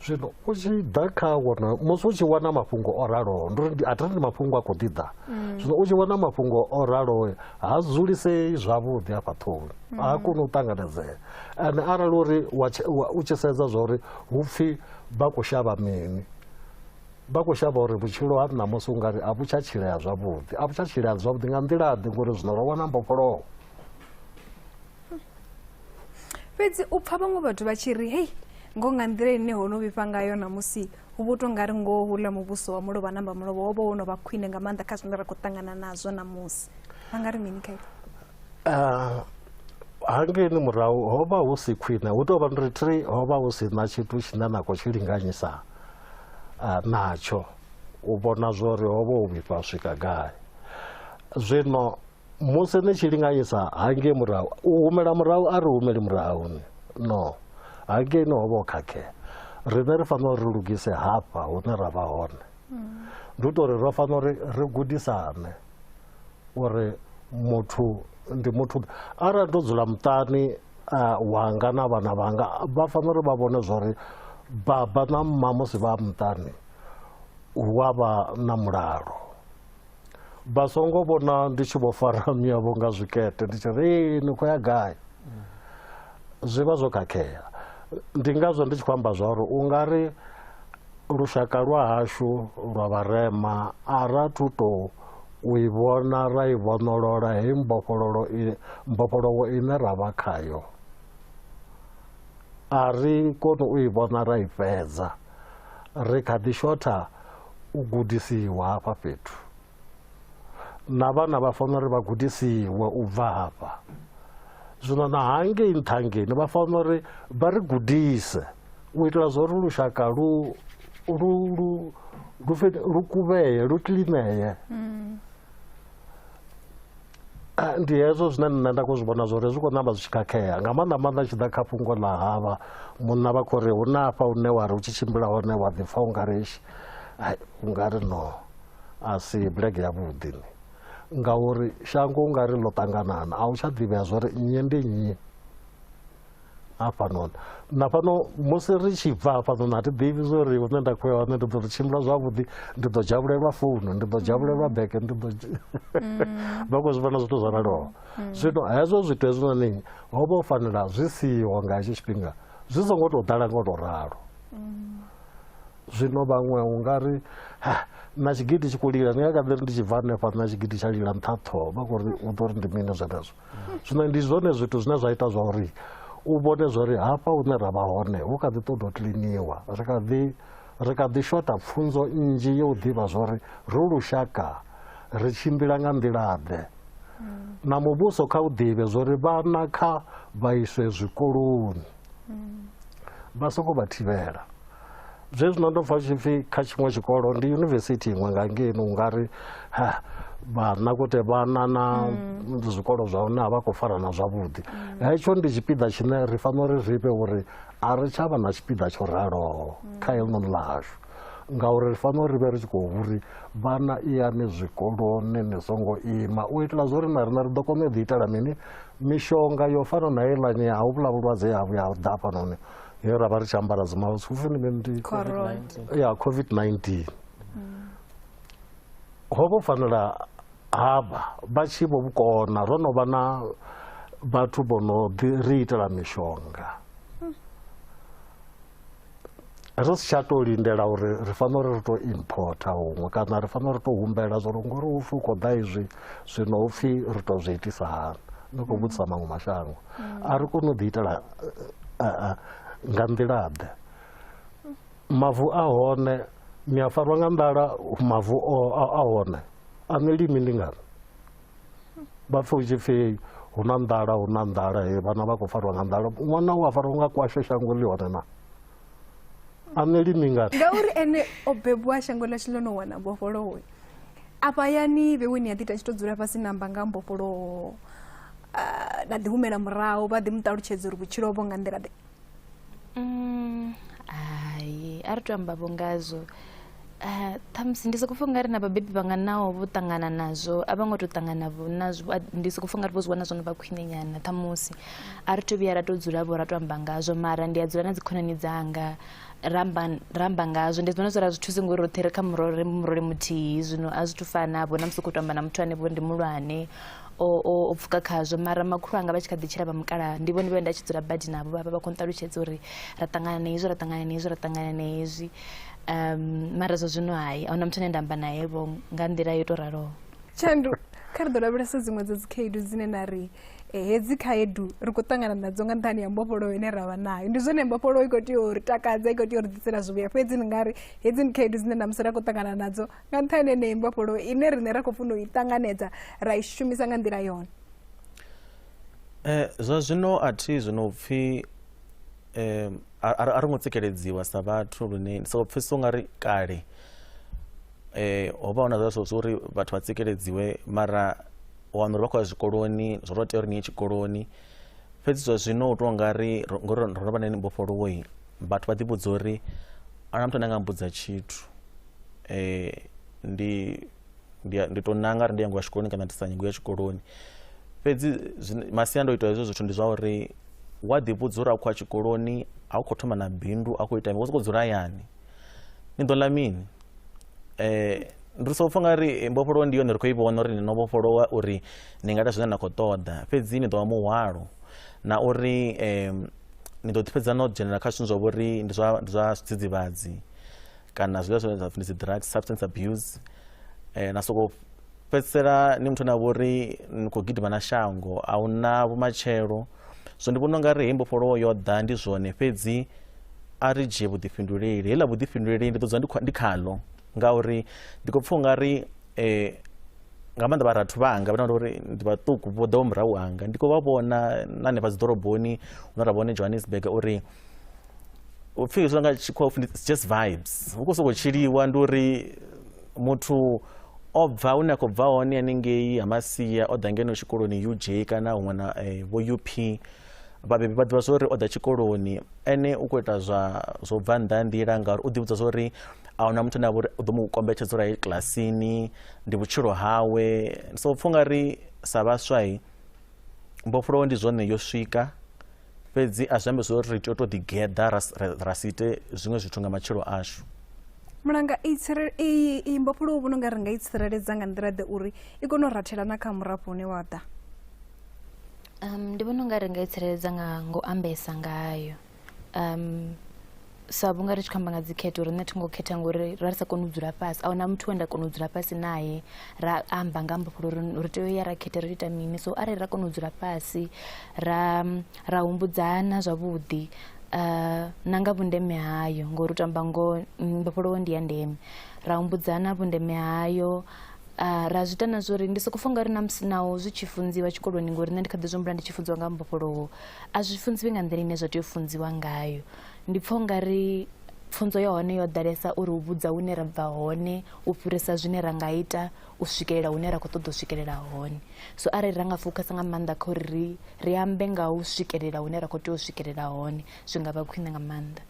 zwino u tshi ḓa kha wona musi u tshi wana mafhungo o raloho ndi a thiri ndi mafhungo a khou ḓi ḓa mm. zwino u tshi wana mafhungo o raloho ha dzulisei zwavhuḓi afha ṱhoni mm. ha koni u ṱanganedzea ende arali uri u tshi sedza zwa uri hu pfhi vha khou shavha mini vha khou shavha uri vhutshilo ha ṋamusi u nga ri a vhu tsha tshilea zwavhuḓi a vhu tsha tshilea zwavhuḓi nga nḓila ḓi ngori zwino ro wana mbofholoho fhedzi u pfa vhaṅwe vhathu vha tshi ri hei ngo nga nḓila ine ho no vhifha ngayo namusi hu vho tou nga ri ngoho hula muvhuso wa mulovha namba mulovha wo vha wo no vha khwine nga maanḓa kha zwine ra khou ṱangana nazwo namusi vha nga ri mini khayo ah, hangeni murahu ho vha hu si khwine hu tou vha ndi ri ho vha hu si na tshithu tshine na khou tshi linganyisa ah, natsho u vhona zwori ho vha u vhifha swika gai zwino musi ni tshi linganyisa hangei murahu u humela murahu a ri humeli murahu ni no hangei ni hovha o khakhea riṋe ri fanela uri ri lugise hafha hune ra vha hone ndi u to uri ro fanela uri ri gudisane uri muthu ndi muthu arali ndo dzula muṱani wanga na vhana vhanga vha fanela uri vha vhone zwa uri baba na mma musi vha muṱani hu a vha na mulalo vha songo vhona ndi tshi vho fara miyavho nga zwikete ndi tshi ri ee ni khou ya gai zwi vha zwo khakhea ndi ngazwo ndi tshi khou amba zwa uri u nga ri lushaka lwa hashu lwa vharema a ra thu tou u i vhona ra i vhonolola heyi mbofhololo mbofholowo ine ra vha khayo a ri koni u i vhona ra i fhedza Ri kha ḓi shotha u gudisiwa hafha fhethu. Na vhana vha fanela uri vha gudisiwe u bva hafha. Zwino na hangei nṱhangeni vha fanela uri vha ri gudise u itela zwa uri lushaka lu lu lu lu kuvheye lu kilineye. Mm. Ah, ndi hezwo zwine nṋe nda khou zwi vhona zwori zwi khou ṋamba zwi tshi khakhea nga maanḓa maanḓa tshi ḓa kha fhungo ḽa havha munna vha khou ri hu na afha une wa ri u tshi tshimbila hone wa ḓipfa u nga ri u nga ri no a si bulege yavhuḓi ni ngauri shango u nga ri ḽo ṱanganana a u tsha ḓivhea zwori nnyi ndi nnyi hafhanoni na fhano musi ri tshi bva hafhanoni a thi ḓivhi zwo ri hune nda khou ya hone ndi ḓo ri tshimbila zwavhuḓi ndi ḓo dzhavhulelwa founu ndi ḓo dzhavhulelwa mm. bege ndi ḓo mm. vha khou zwi vhona zwithu zwo raloho mm. zwino hezwo zwithu hezwinoni ho vha u fanela zwi siho nga hetsho tshifhinga zwi songo tou ḓala ngo tou ralo zwino vhaṅwe u nga ri na tshigidi tshi khou lila ndi nga kha ḓi ri ndi tshi bva hanefha na tshigidi tsha lila nṱha ṱhoho vha khou ri u ḓo ri ndi mini zwenezwo zwino ndi zwone zwithu zwine zwa ita zwa uri u vhone zwa uri hafha hune ra vha hone hu kha ḓi ṱoḓa u kiliniwa ri kha ḓi ri kha ḓi shota pfunzo nnzhi yo u ḓivha zwa uri ro lushaka ri tshimbila nga nḓilaḓe na muvhuso kha u ḓivhe zwa uri vhana kha vha iswe zwikoloni vha songo vha thivhela zwe zwino ndo pfa tshipfi kha tshiṅwe tshikolo ndi yunivesithi iṅwe nga ngeni u nga ri vhanakote vhana na mm. zwikolo zwa hone a vha khou farana zwavhuḓi mm. hetsho ndi tshipiḓa tshine ri fanela uri ri fhe uri a ri tsha vha na tshipiḓa tsho raloho mm. kha helinoni ḽashu ngauri ri fanela uri vhe ri tshi khou uri vhana iyani zwikoloni ni songo ima u itela zwo ri na rina ri ḓo kona u ḓi itela mini mishonga yo fana na heiḽani ya huvhula vhulwadze ha vhuya ḓa fhanoni he ra vha ri tshi ambara dzimask u funi mini ndi ya covid-19 ho vho fanela havha vha tshi vho vhukona ro no vha na vhathu vho no ḓi ri itela mishonga ri si tsha tou lindela uri ri fanela uri ri tou importa huṅwe kana ri fanela uri tou humbela zwo ri ngori hu pfi u khou ḓa izwi zwino hupfi ri to zwi itisa hani no khou vhudzisa maṅwe mashango a ri koni u ḓi itela nga nḓila ḓe mavu a hone ni a farwa nga nḓala mavu a hone a ni limi ndi ngani vha pfhe u tshi pfi hu na nḓala hu na nḓala vhana vha khou farwa nga nḓala ṅwana u a farwa nga kwashe shango ḽi hone na a nṋe limi ngati ngauri ene o bebiwa shango ḽashu ḽo no wana mbofholowo afha yani vhewe ni a ḓi ta tshi tou dzula fhasi namba nga mbofholowo ah, na ḓi humela murahu vha ḓi mu ṱalutshedza uri vhutshilo vho nga nḓila ḓe Mm, hai a ri to amba vho ngazwo Ah, ṱhamusi ndi sokou pfha ungari na vhabebi vhanga naho vho ṱangana nazwo a vho ngo tou ṱangana vho nazwo A- ndi sokou pfha ungari vho zwi wana zwo no vha khwine nyana ṱhamusi a ri to vhuya ra tou dzula vho ra tou amba ngazwo mara ndi a dzula na dzikhonani dzanga ra amba ra amba ngazwo ndi vhona zwi ra zwi thusi ngori roṱhe ri kha murole murole muthihi zwino a zwi thu fana vho na musi u khou tou amba na muthu ane vho ndi mulwane o o- o pfuka khazwo mara makhulu anga vha tshi kha ḓi tshila vha mukalaha ndi vhone vhe nda tshi dzula badi navho vha vha vha khou nṱalutshedza uri ra ṱangana na hezwi ra ṱangana na hezwi ra ṱangana na hezwi um mara zwa zwino hai ahuna muthu ane nda amba naye vho nga nḓila yo tou raloho tshandu kha ri ḓo lavhelesa dziṅwe dza dzikhaedu dzine na ri eh, hedzi khaedu ri khou ṱangana nadzo nga nṱhani ya mbofholowo ine ra vha nayo ndi zwone mbofholowo i khou tea u ri takadza i khou tea u ri ḓisela zwivhuya fhedzi ni nga ri hedzi ndi khaedu dzine namusi ra khou ṱangana nadzo nga nṱhani yeneyi mbofholowo ine riṋe ra khou funa u i ṱanganedza ra i shumisa nga nḓila yone Eh, zwa zwino a thi zwino pfhi um a a ri- a ri ngo tsikeledziwa sa vhathu lune ndi sokou pfhesesa ungari kale eh ho vha hu na zwa zwo uri vhathu vha tsikeledziwe mara u wana uri vha khou ya zwikoloni zwo tou tea uri ni ye tshikoloni fhedzi zwa zwino u tou nga ri ro- ngori ro ro vha na mbofholowoi vhathu vha ḓivhudza uri a na muthu ane a nga mbudza tshithu eh ndi ndi, ndi to nanga ri ndi yango ya tshikoloni kana ndi sa nyango ya tshikoloni fhedzi masiandoitwa hezwo zwithu ndi zwa uri wa ḓivhudza uri a khou a tshikoloni a u khou thoma na bindu a khou ita mini wo sokou dzula hayani ni ḓo ḽa mini um ndi so pfha nga ri eh, mbofholowo ndi yone ri khou i vhona uri ni no vhofholowa uri ni nga ita zwine na khou ṱoḓa fhedzi ni ḓo vha muhwalo na uri um ni ḓo ḓifhedza no dzhenelela kha zwithu zwa vhori ndi zwa ndi zwa zwidzidzivhadzi kana zwiḽiwa zwine zwa pfhi ndi dzi drugs substance abuse eh, na soko fhedzisela ni muthu na vho ri ni khou gidima na shango a hu na vhumatshelo so ndi vhona u nga ri hei mbofholowo yo ḓa ndi zwone fhedzi a ri dzhie vhuḓifhinduleli heiḽa vhuḓifhinduleli ndi ḓo dzula ndi kha- ndi khaḽo ngauri ndi khou pfha u nga ri eh, nga maanḓa vharathu vhanga vhana uri ndi vhaṱuku vho ḓaho murahu hanga ndi khou vha vhona na hanefha dzi ḓoroboni hune ra vhone johannesburg uri u pfhi zwi nga tshikhuwa u pfhi it's just vibes hu khou sokou tshiliwa ndi uri muthu o bva hune a khou bva hone haningei ha masia o ḓa ngeno tshikoloni uj kana huṅwe na eh, vho up vhabebi vha ḓivha zwori o ḓa tshikoloni ene u khou ita zwa zwo bva nnḓa ha nḓila ngauri u ḓivhudza zwori a huna muthu ane a vha uri u ḓo mu kombetshedza uri a ye kilasini ndi vhutshilo hawe so pfha ungari sa vhaswai mbofholowo ndi zwone yo swika fhedzi a zwi ambe zwo ri ri tea u tou ḓigeḓa ra si ite zwiṅwe zwithu nga matshilo ashu mulanga iyi mbofholowo vhono nga ri nga i tsireledza nga nḓila ḓe uri i kone u rathela na kha murafho une wa ḓa um ndi vhona u nga ri nga i tsireledza nga ngo ambesa ngayo um sa vhunga ri tshi khou amba nga dzikhetho riṋe thi ngo khetha ngori ra ri sa koni u dzula fhasi ahuna muthu we nda kona u dzula fhasi naye ra amba nga mbofholo uri ri tea u ya ra khetha ri ita mini so arali ra kona u dzula fhasi ra ra humbudzana zwavhuḓi uh, na nga vhundeme hayo ngori u tamba ngo mbofholowo ndi ya ndeme ra humbudzana vhundeme hayo uh, ra zwi ita na zwo ri ndi soko funga ri na musi naho zwi tshi funziwa tshikoloni ngori nṋe ndi kha ḓi zwi humbula ndi tshi funziwa nga mbofholowo a zwi funziwi nga nḓila ine zwa tea u funziwa ngayo Ndi pfha ungari pfunzo ya hone yo ḓalesa uri u vhudza hune ra bva hone u fhirisa zwine ra nga ita u swikelela hune ra khou ṱoḓa u swikelela hone so arali ra nga fokhasa nga maanḓa kha uri ri ri ambe nga u swikelela hune ra khou tea u swikelela hone zwi nga vha khwine nga maanḓa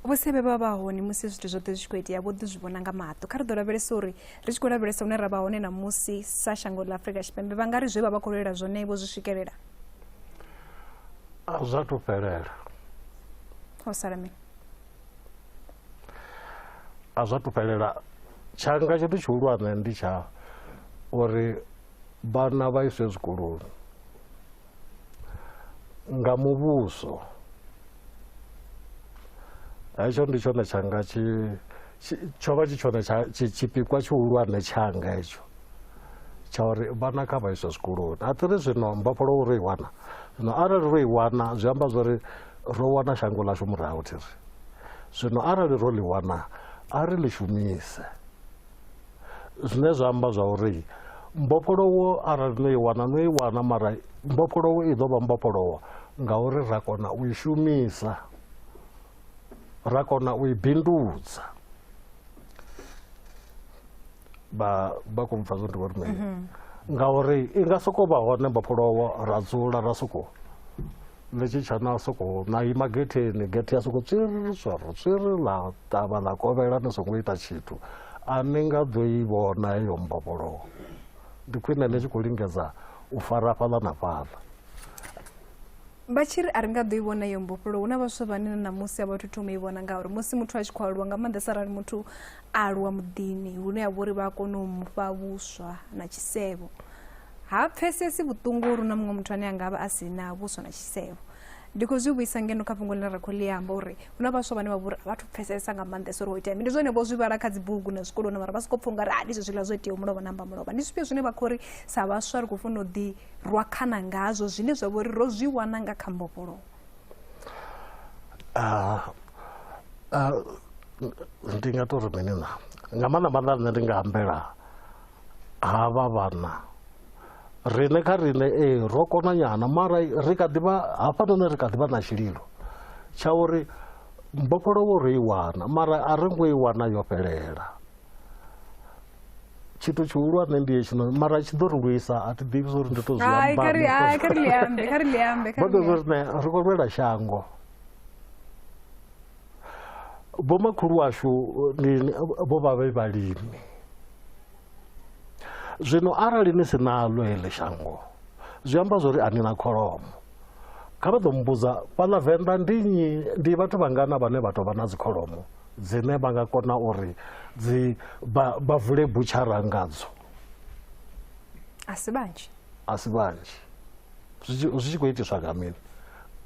vhusevhe vha vha hone musi zwithu zwoṱhe zwi tshi khou itea vho ḓi zwi vhona nga maṱo kha ri ḓo lavhelesa uri ri tshi khou lavhelesa hune ra vha hone na musi sa shango ḽa afrika tshipembe vha nga ri zwe vha vha khou lwela zwone vho zwi swikelela a zwa thu fhelela ho sala mini a zwa thu fhelela tshanga tshithu tshihulwane ndi tsha uri vhana vha iswe zwikoloni nga muvhuso hetsho ndi tshone tshanga tshi tsho vha tshi tshone tshipikwa tshihulwane tshanga hetsho tsha uri vhana kha vha iswe zwikoloni a tiri zwino mbofholo uri i wana zwino arali ro i wana zwi amba zwori ro wana shango ḽashu murahu thiri zwino arali ro ḽi wana a ri ḽi shumise zwine zwa amba zwa uri mbofholowo arali no i wana no i wana mara mbofholowo i ḓo vha mbofholowo ngauri ra kona u i shumisa ra kona u i bindudza vha vha khou mpfa zwo ndi vhori mini ngauri i nga sokou vha hone mbofholowo ra dzula ra sokou ni tshi tsha na soko na ima getheni gethe ya soko tswiri swaro tswiri ḽa ṱavha ḽa kovhela ni songo ita tshithu a ni nga ḓo i vhona heyo mbofholowo ndi khwine ni tshi khou lingedza u fara fhaḽa na fhaḽa vha tshi ri a ri nga ḓo i vhona iyo mbofholowo hu na vhaswa vhane na ṋamusi a vha thu thoma i vhona ngauri musi muthu a tshi khou aluwa nga maanḓesa arali muthu a aluwa muḓini hune ya vha uri vha a kona u mu fha vhuswa na tshisevho ha pfesesi vhuṱungu lu na muṅwe muthu ane a nga vha a si na vhuswa na tshisevho ndi khou zwi vhuisa ngeno kha fhungo ḽine ra khou ḽi amba uri hu na vhaswa vhane vha vhori a vhathu pfesesa nga maanḓesa uri ho itea mi ndi zwone vho zwi vhala kha dzibugu na zwikoloni mara vha sokou pfha ungari a ndi zwezwiḽa zwo itea mulovha namba mulovha ndi zwifhio zwine vha khou ri sa vhaswa ri khou funa u ḓi rwa khana ngazwo zwine zwa vho ri ro zwi wana nga kha mbofholowo ah, ah, ndi nga tou ri mini na nga maanḓa maanḓa nṋe ndi nga ambela ha vha vhana riṋe kha riṋe ee ro kona nyana mara ri kha ḓivha hafhanoni ri kha ḓivha na tshililo tsha uri mbofholowo ro i wana mara a ri ngo i wana yo fhelela tshithu tshihulwane ndi hetshinoni mara tshi ḓo ri lwisa a thi ḓivhi zwauri ndi to zwiambaoḓo zwo rine ri khou lwela shango vhomakhulu washu vho vha vhe vhalimi zwino arali ni si naḽo heḽi shango zwi amba zwori a ni na kholomo kha vha ḓo mmbudza fhaḽa venḓa ndi nnyi ndi vhathu vhangana vhane vha tou vha na dzikholomo dzine vha nga kona uri dzi vha vule butshara ngadzo a si vhanzhi a si vhanzhi zwi tshi khou itiswa nga mini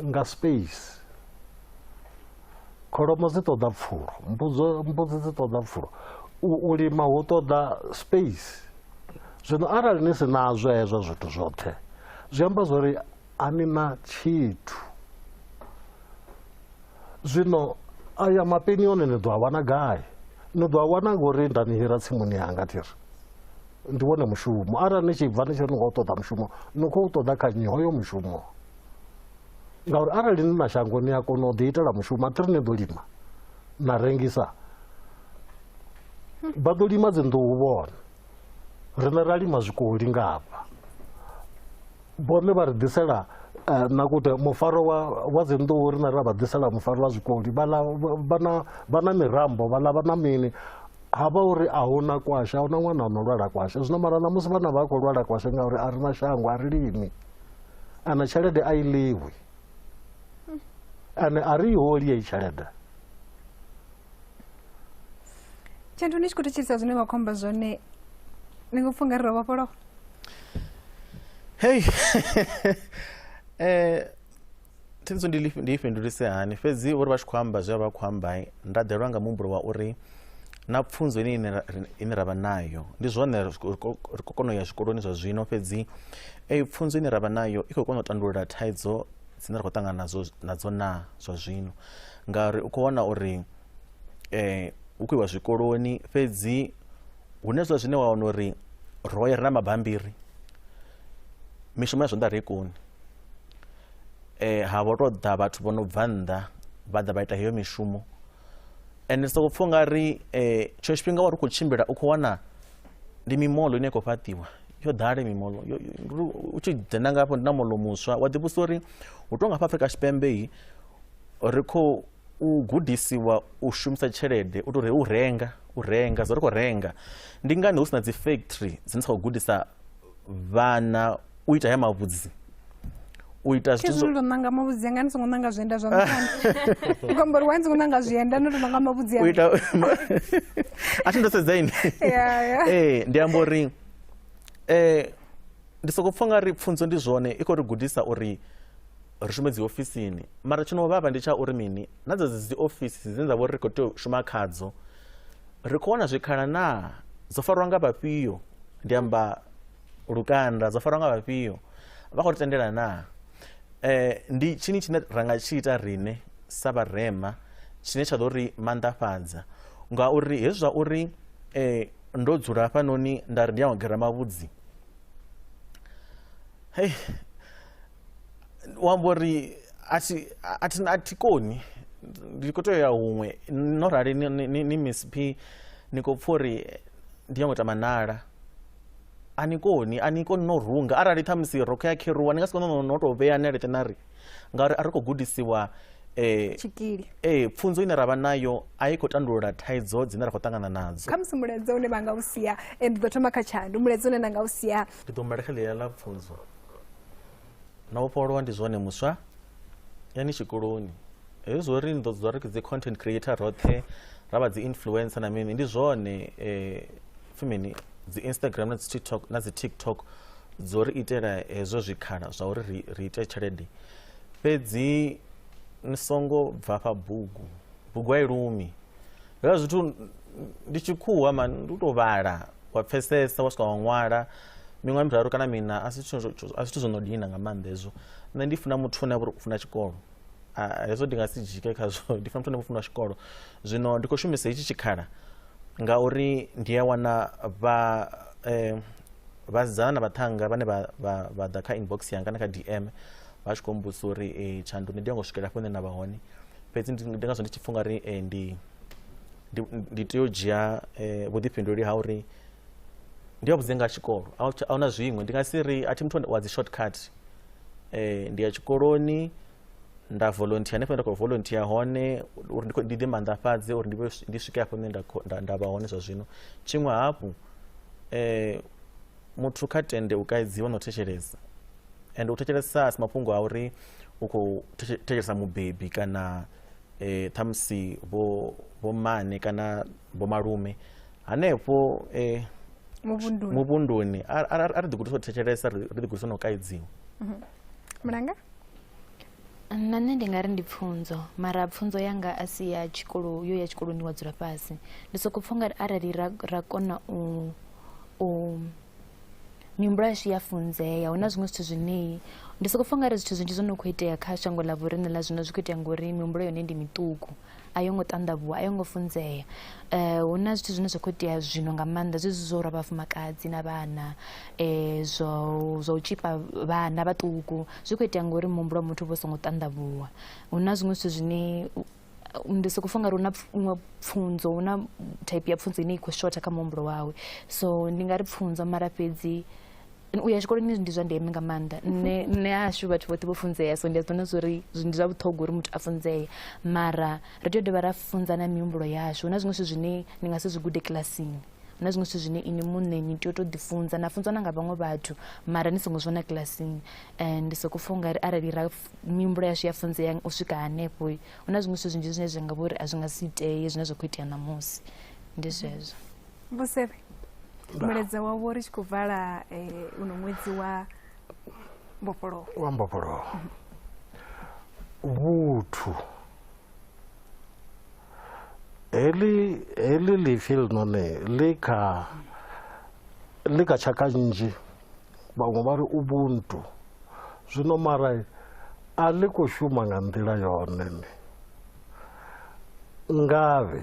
nga space kholomo dzi ṱoḓa pfulo mbudzo mbudzi dzi ṱoḓa pfulo u lima hu ṱoḓa space zwino arali ni si nazwo hezwo zwithu zwoṱhe zwi amba zwori a ni na tshithu zwino aya mapeni one ni ḓo a wana gai ni ḓo a wana ngori nda ni hira tsimuni yanga ti ri ndi wone mushumo arali ni tshi bva ni tshi ri ni khou ṱoḓa mushumo ni khou ṱoḓa kha nnyi hoyo mushumo ngauri arali ni na shango ni a kona u ḓi itela mushumo athiri ni ḓo lima na rengisa vha ḓo lima dzinḓuhu vhone riṋe ra lima zwikoli nga hafha vhone vha ri ḓisela eh, na kute mufaro wa dzinḓuhu riṋe ra vha ḓisela mufaro wa zwikoli vha na mirambo vhaḽa vha na mini ha vha uri a hu na kwashe a hu na ṅwana o no lwala kwashe zwino mara ṋamusi vhana vha khou lwala kwashe ngauri a ri na shango a ri limi ana tshelede a i ḽiwi ane a ri i holi yeyi tshelede tshenthu ni tshi khou thetshelisa zwine vha khou amba zwone ni ngo pfha ungari ro vhofholowa hei um thikhedzo ndi lifhi- ndi i fhindulise hani fhedzi uri vha tshi khou amba zwe vha khou amba nda ḓelwa nga muhumbulo wa uri na pfunzo ine ine ra- ine ra vha nayo ndi zwone ri khou- khou- ri khou kona u ya zwikoloni zwa zwino fhedzi eyi pfunzo ine ra vha nayo i khou kona u tandulula thaidzo dzine ra khou ṱangana nadzo nadzo na zwa zwino ngauri u khou wana uri eh hu khou iwa zwikoloni fhedzi hune zwa zwine wa wana uri ro ya ri na mabambiri mishumo ya zwanḓa ri i koni eh ha vho to ḓa vhathu vho no bva nnḓa vha ḓa vha ita heyo mishumo ende soko pfha nga ri eh tsho tshifhinga wa ri khou tshimbila u khou wana ndi mimoḽo ine ya khou fhaṱiwa yo ḓale mimoḽo u tshi dzhena nga hafho ndi na moḽo muswa wa ḓivhusa uri hu tou nga hafha afrika tshipembe yi ri khou u gudisiwa u shumisa tshelede u tou re u renga u renga zwo ri khou renga ndi ngani hu si na dzi factory dzine dza khou gudisa vhana u ita haya mavhudzi u ita zwithu zwo ndo nanga mavhudzi anga ni songo nanga zwienda zwa mutana ngombo ri wani songo nanga zwienda no ndo nanga mavhudzi anga u ita a thi ndo sedza ini eh ndi ambo ri eh ndi soko pfha nga ri pfunzo ndi zwone i kho ri gudisa uri ri shume dzi ofisini mara tshino vhavha ndi tsha uri mini na dza dzi ofisi dzine dza vho ri kho tea u shuma khadzo Ri khou wana zwikhala naa? Dzo farwa nga vhafhio? Ndi amba lukanda, dzo farwa nga vhafhio? Vha khou ri tendela naa? Eh, ndi tshini tshine ra nga tshi ita rine sa vharema tshine tsha ḓo ri manḓafhadza ngauri hezwi zwa uri eh, ndo dzula hafhanoni nda ri ndi ya u gera mavhudzi hei wambo ri a thi koni ndi khou tea u ya huṅwe no rali ni miss p ni khou pfha uri ndi yango tama nala a ni koni a ni koni no runga arali ṱhamusi rokho ya kheruwa ni nga si kone no tou vhea ni aleṱe na ri ngauri a ri khou gudisiwa eh, tshikili eh, pfunzo ine ra vha nayo a i khou tandulula thaidzo dzine ra khou ṱangana nadzo khamusi mulaedza une vha nga u sia eh, ndi ḓo thoma kha tshandu mulaedza une na nga u sia ndi ḓo mbalekha ḽiya ḽa pfunzo na vhofholowa ndi zwone muswa yani tshikoloni hezwi zwo ri ni ḓo dzula ri dzi content creator roṱhe ra vha dzi influencer na mini ndi zwone eh, fimini dzi instagram na dzi tiktok na dzi tiktok dzo ri itela hezwo zwikhala zwa uri ri, ri ite tshelede fhedzi ni songo bva fha bugu bugu a i lumi hezwo zwithu ndi tshikhuwa mani ndi u tou vhala wa pfesesa wa swika wa ṅwala miṅwaha miraru kana mina a si zwithu zwo no dina nga maanḓa hezwo nṋe ndi funa muthu une a vha uri u funa tshikolo hezwo ndi nga si dzike khazwo ndi funa muthu ane vha funa tshikolo zwino ndi khou shumisa hetshi tshikhala ngauri ndi a wana vha um vhasidzana na vhaṱhanga vhane vha ḓa kha inbox yanga kana kha dm vha tshi khou mbusa uri um tshanduni ndi yo ngo swikela hafho hune na vha hone fhedzi ndi ngazwo ndi tshi pfha ungari um ndi ndi, ndi tea u dzhia eh, vhuḓifhinduleli ha uri ndi a vhudze nga tshikolo a hu tsha- a huna zwiṅwe ndi nga si ri a thi muthu wa dzi shortcut eh, ndi ya tshikoloni nda volunteer hanefho nda khou volunteer hone uri ndi khou- ndi ḓi manḓafhadze uri ndi vhe- ndi swike hafho hune nda khou- nda- nda vha hone zwa zwino tshiṅwe hafhu eh, muthu kha tende u kaidziwa na u thetshelesa and u thetshelesa a si mafhungo a uri u khou thetshe- thetshelesa mubebi kana eh, ṱhamusi vho vhomane kana vhomalume hanefho eh, muvhunduni muvhunduni a a- a- a ri ḓigudisa u thetshelesa ri ri ḓigudisa na u kaidziwa mulanga na nṋe ndi nga ri ndi pfunzo mara pfunzo yanga a si ya tshikolo yo ya tshikoloni wa dzula fhasi ndi soko pfha ungari arali ra, ra kona u, u mihumbulo yashu ya funzea hu na zwiṅwe zwithu zwine ndi soko fa ngari zwithu zwinzhi zwo no khou itea kha shango ḽa vhoriṋe ḽa zwino zwi khou itea ngori mihumbulo yone ndi miṱuku a yo ngo ṱanḓavhuwa a yo ngo funzea um hu na zwithu zwine zwa khou itea zwino nga maanḓa zwezwi zwo lwa vhafumakadzi na vhana um zwo zwa u tshipa vhana vhaṱuku zwi khou itea ngori muhumbulo wa muthu vho songo ṱanḓavhuwa hu na zwiṅwe zwithu zwine ndi soko funga uri hu na iṅwe pfunzo hu na type ya pfunzo ine i khou shotha kha muhumbulo wawe so ndi nga ri pfunzo mara fhedzi u ya tshikoloni ndi zwa ndeme nga maanḓa nṋe nṋe hashu vhathu vhoṱhe vho funzea so ndi a zwi vhona zwori ndi zwa vhuṱhogwa uri muthu a funzee mara ri tea u dovha ra funza na mihumbulo yashu hu na zwiṅwe zwithu zwine ni nga si zwi gude kilasini hu na zwiṅwe zwithu zwine ini muṋe ni tea u tou ḓifunza na funzwa na nga vhaṅwe vhathu mara ni songo zwi vhona kilasini and ndi soko pfha ungari arali ra mihumbulo yashu ya funzea u swika hanefho hu na zwiṅwe zwithu zwinzhi zwine zwa nga vha uri a zwi nga si itee zwine zwa khou itea ṋamusi ndi zwezwo vhusevhe mulaedza wavho ri tshi khou vala eh, uno ṅwedzi wa mbofholowo wa mbofholowo vhuthu heḽi heḽi ḽipfi ḽinoni ḽi kha ḽi kha tshaka nnzhi vhaṅwe vha ri ubuntu zwino mara a ḽi khou shuma nga nḓila yone ni ngavhe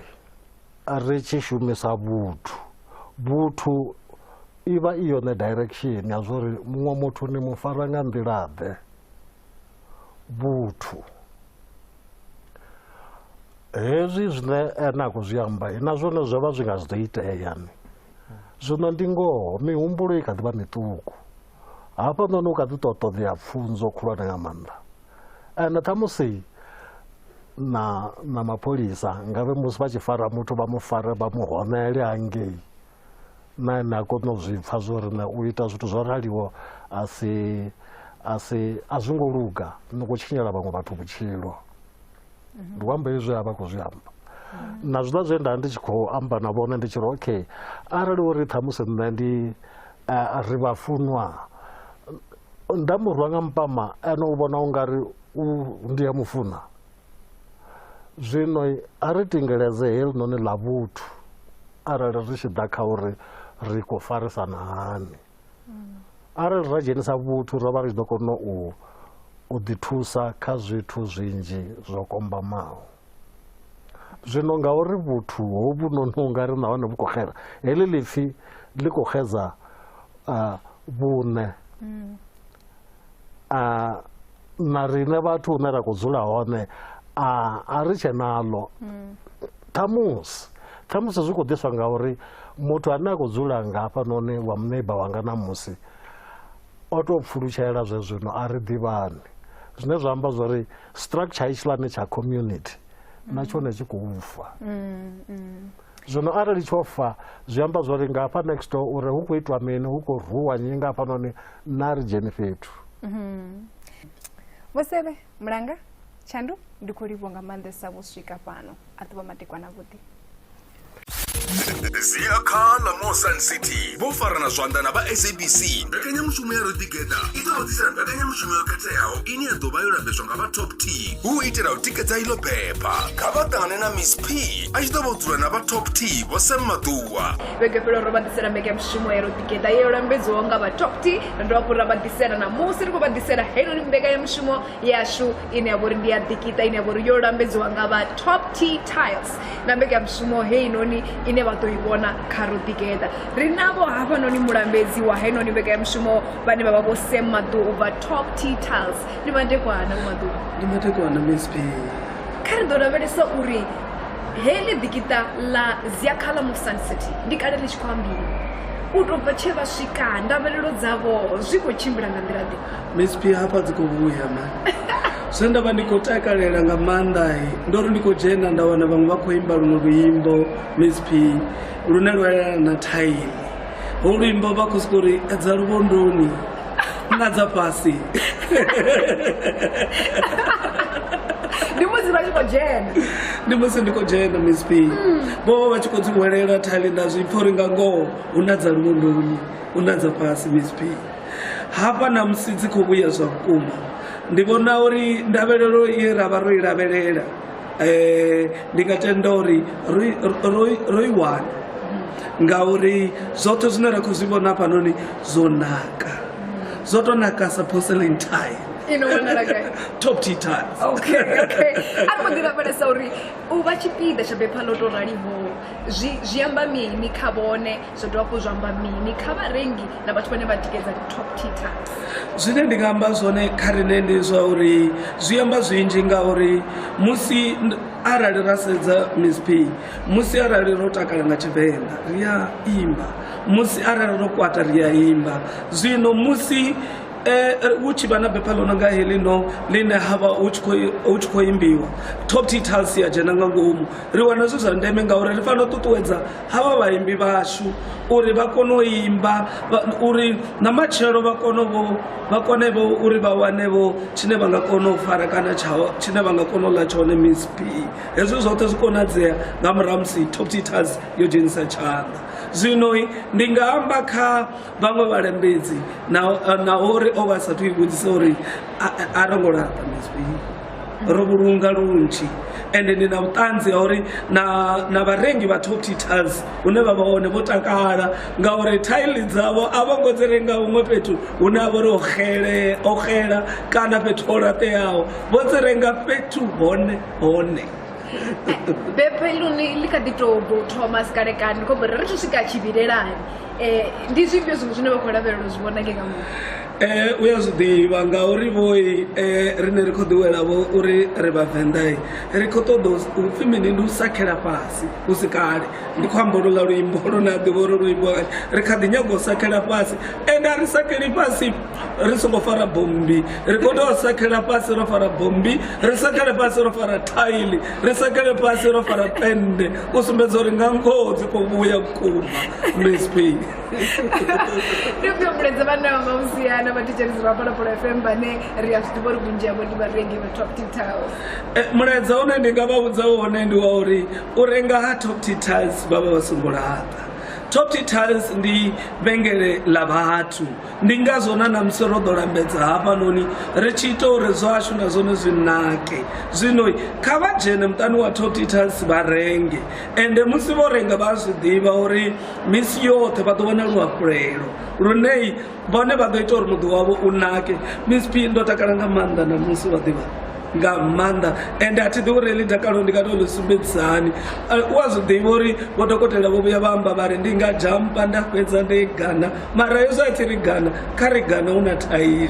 ri tshi shumisa vhuthu vhuthu i vha i yone direction ya zwa uri muṅwe muthu ni mu fara nga nḓilaḓe vhuthu hezwi zwine ene a khou zwi amba na zwone zwo vha zwi nga zwi ḓo itea ni zwino ndi ngoho mihumbulo i kha ḓi vha miṱuku hafhanoni u kha ḓi tou ṱoḓea pfunzo khulwane nga maanḓa ende ṱhamusi na na mapholisa ngavhe musi vha tshi fara muthu vha mu fare vha mu honele hangei na ene a kone u zwi pfa zwo ri na u ita zwithu zwo raliwo a si a si a zwi ngo luga ni khou tshinyela vhaṅwe vhathu vhutshilo ndi u amba izwi a vha khou zwi amba na zwiḽa zwe nda ndi tshi khou amba na vhone ndi tshi ri okay arali uri ṱhamusi nṋe ndi eh, ri vhafunwa nda mu rwa nga mpama ene u vhona u nga ri ndi a mu funa zwino a ri tingeleze helinoni ḽa vhuthu arali ri tshi ḓa kha uri ri khou farisana hani arali ra dzhenisa vhuthu ro vha ri tshi ḓo kona u u ḓithusa kha zwithu zwinzhi zwo kombamaho zwino ngauri vhuthu hovhu noni u nga ri nahone vhu khou xela heḽi lipfhi ḽi khou xedza vhune a na rine vhathu hune ra khou dzula hone a a ri tshe naḽo ṱhamusi ṱhamusi zwi khou ḓiswa nga uri muthu ane a khou dzula nga hafhanoni wa muneiba wanga na musi o tou pfulutshela zwe zwino a ri ḓivhani zwine zwa amba zwa uri structure hetshiḽani tsha community na tshone tshi khou fa Zwino arali tsho fa zwi amba zwo ri nga hafha next door uri hu khou itwa mini hu khou rhuwa nyi nga hafhanoni na ri dzheni fhethu mhm. vho sebe mulanga tshandu ndi khou livho nga maanḓesa vho swika fhano a ḓuvha matekwana vhuḓi zia kha la mosan city vho farana zwanḓa na vha sabc mbekanyamushumo ya rodigeda i ḓo vhudzisela mbekanyamushumo yo khetheaho ine ya ḓo vha yo lambedzwa nga vha top t hu itela u tikedza iḽo bepha kha vha ṱangane na miss p a tshi ḓo vha dzula na vha top t vho sam maḓuwa vhege fhelo ro vha ḓisela mbeke ya mushumo ya roḓigeḓa yo lambedziwaho nga vha top t ro dovha hafhu ra vha ḓisela na musi ri khou vha ḓisela heinoni mbeka ya mushumo yashu ine ya vha uri ndi ya ḓikiṱa ine ya vha uri yo lambedziwa nga vha top t tiles na mbeka ya mushumo heinoni ine vha ḓo i vhona kha roḓigeḓa ri navho hafhanoni mulambedzi wa heinoni mbeka ya mushumo vhane vha vha vho sam maḓuwa u bva top t tiles ni vha ndekwana vho maḓuwa ndi matekwana msp Kha ri ḓo lavhelesa uri heḽi ḓikiṱa ḽa Ziakhala mu Sun City ndi kale ḽi tshi khou ambiwa u tou bva tshe vha swika ndavhelelo dzavho zwi khou tshimbila nga nḓila ḓe miss p hafha dzi khou vhuya ma zwe nda vha ndi khou takalela nga maanḓa ndo ri ndi khou dzhena nda wana vhaṅwe vha khou imba luṅwe luimbo miss p lune lwa yelana na thaini holwimbo vhakhosukori dza luvhondoni na dza fhasi ndi musi vha tshi khou dzhena ndi musi ndi khou dzhena misp vho vha vha tshi khou dzi hwelela thali nda zwi pfha uri nga ngoho hu na dza luvhondoni hu na dza fhasi misp hafha na musi dzi khou vhuya zwa vhukuma ndi vhona uri ndavhelelo ye ra vha ro i lavhelela um ndi nga tenda uri ro i wana ngauri zwoṱhe zwine ra khou zwi vhona hafhanoni zwo naka zwo tou naka sa porcelain tile top t tiles okay okay a ri ḓi lavhelesa uri u vha tshipiḓa tsha bepha ḽo tou raliho zwi zwi amba mini kha vhone zwo dovha hafhu zwa amba mini kha vharengi na vhathu vhane vha tikedza top tita zwine ndi nga amba zwone kha rine ndi zwa uri zwi amba zwinzhi ngauri musi arali ra sedza misp musi arali ro takala nga tshivenḓa ri a imba musi arali ro kwata ri a imba zwino musi Eh, eh, hu tshi vha na bepha ḽo no nga heḽi no ḽine ha vha hu tshi khou imbiwa top t tals ya dzhena nga ngomu ri wana zwi zwa ndeme ngauri ri fanela u ṱuṱuwedza havha vhaimbi vhashu uri vha kone u imba uri na matshelo vha kone vho vha kone vho uri vha wane vho tshine vha nga kona u fara kana tshaho tshine vha nga kona u ḽa tshone miss p hezwi zwoṱhe zwi konadzea nga murahu musi top teachers yo dzhenisa tshanḓa zwino ndi nga amba kha vhaṅwe vhalembedzi na uri o vha a sathu i vhudzisa uri a ro ngo laṱa mizwii ro vhulunga lunzhi ende ndi na vhuṱanzi ha uri na vharengi vha top titals hune vha vha hone vho takala ngauri thaili dzavho a vho ngo dzi renga huṅwe fhethu hune a vho ri o xela kana fhethu ho laṱeaho vho dzi renga fhethu hone hone bepeloni li kha ḓi tou thoma sikalekani khombo ri ri to swika tshivhilelani Eh, ndi zwifhio zwiṅwe zwine vha khou lavhelela u zwi vhona nge nga muṅwe Eh, u ya zwiḓivha ngauri vhoi eh, rine ri khou ḓiwela vho uri ri vhavenḓai ri khou ṱoḓa u- upfhi mini ndi u sakhela fhasi hu si kale ndi khou amba lula luimbo lune a ḓivha uri luimbo ri kha ḓi nyaga u sakhela fhasi ende a ri sakheli fhasi ri songo fara bommbi ri khou tea u sakhela fhasi ro fara bommbi ri sakhele fhasi ro fara thaili ri sakhele fhasi ro fara pende u sumbedza uri nga ngoho dzi khou vhuya vhukuma msp ri khou humbuledza vhana vha mausiana vha thetshelisi vha phalaphala fm vhane ri a zwi ḓivha uri vhunzhi havho ndi vharengi vha top titals eh, mulaedza une ndi nga vha vhudza wone ndi wa uri u renga ha top titals vha vha vha songo laṱa top titals ndi vhengele ḽa vhathu ndi ngazwo na namusi ro ḓo lambedza hafhanoni ri tshi ita uri zwashu na zwone zwi nake zwino kha vha dzhene muṱani wa totitas vha renge ende musi vho renga vha zwi ḓivha uri misi yoṱhe vha ḓo vhona luhafhulelo lune vhone vha ḓo ita uri muḓi wavho u nake miss p ndo takala nga maanḓa na musi vha ḓivha nga maanḓa ende a thi ḓi uri heḽi dakalo ndi nga to ḽi sumbedzisani u a zwi ḓivha uri vho dokotela vho vhuya vha amba vha ri ndi nga jampa nda fhedza ndi gana mara yesu a tshi ri gana kha ri gana hu na thaili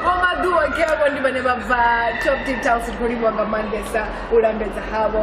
vhomaḓuwa ke avho ndi vhane vha bva top details ri khou livhiwa nga maanḓesa u lambedza havho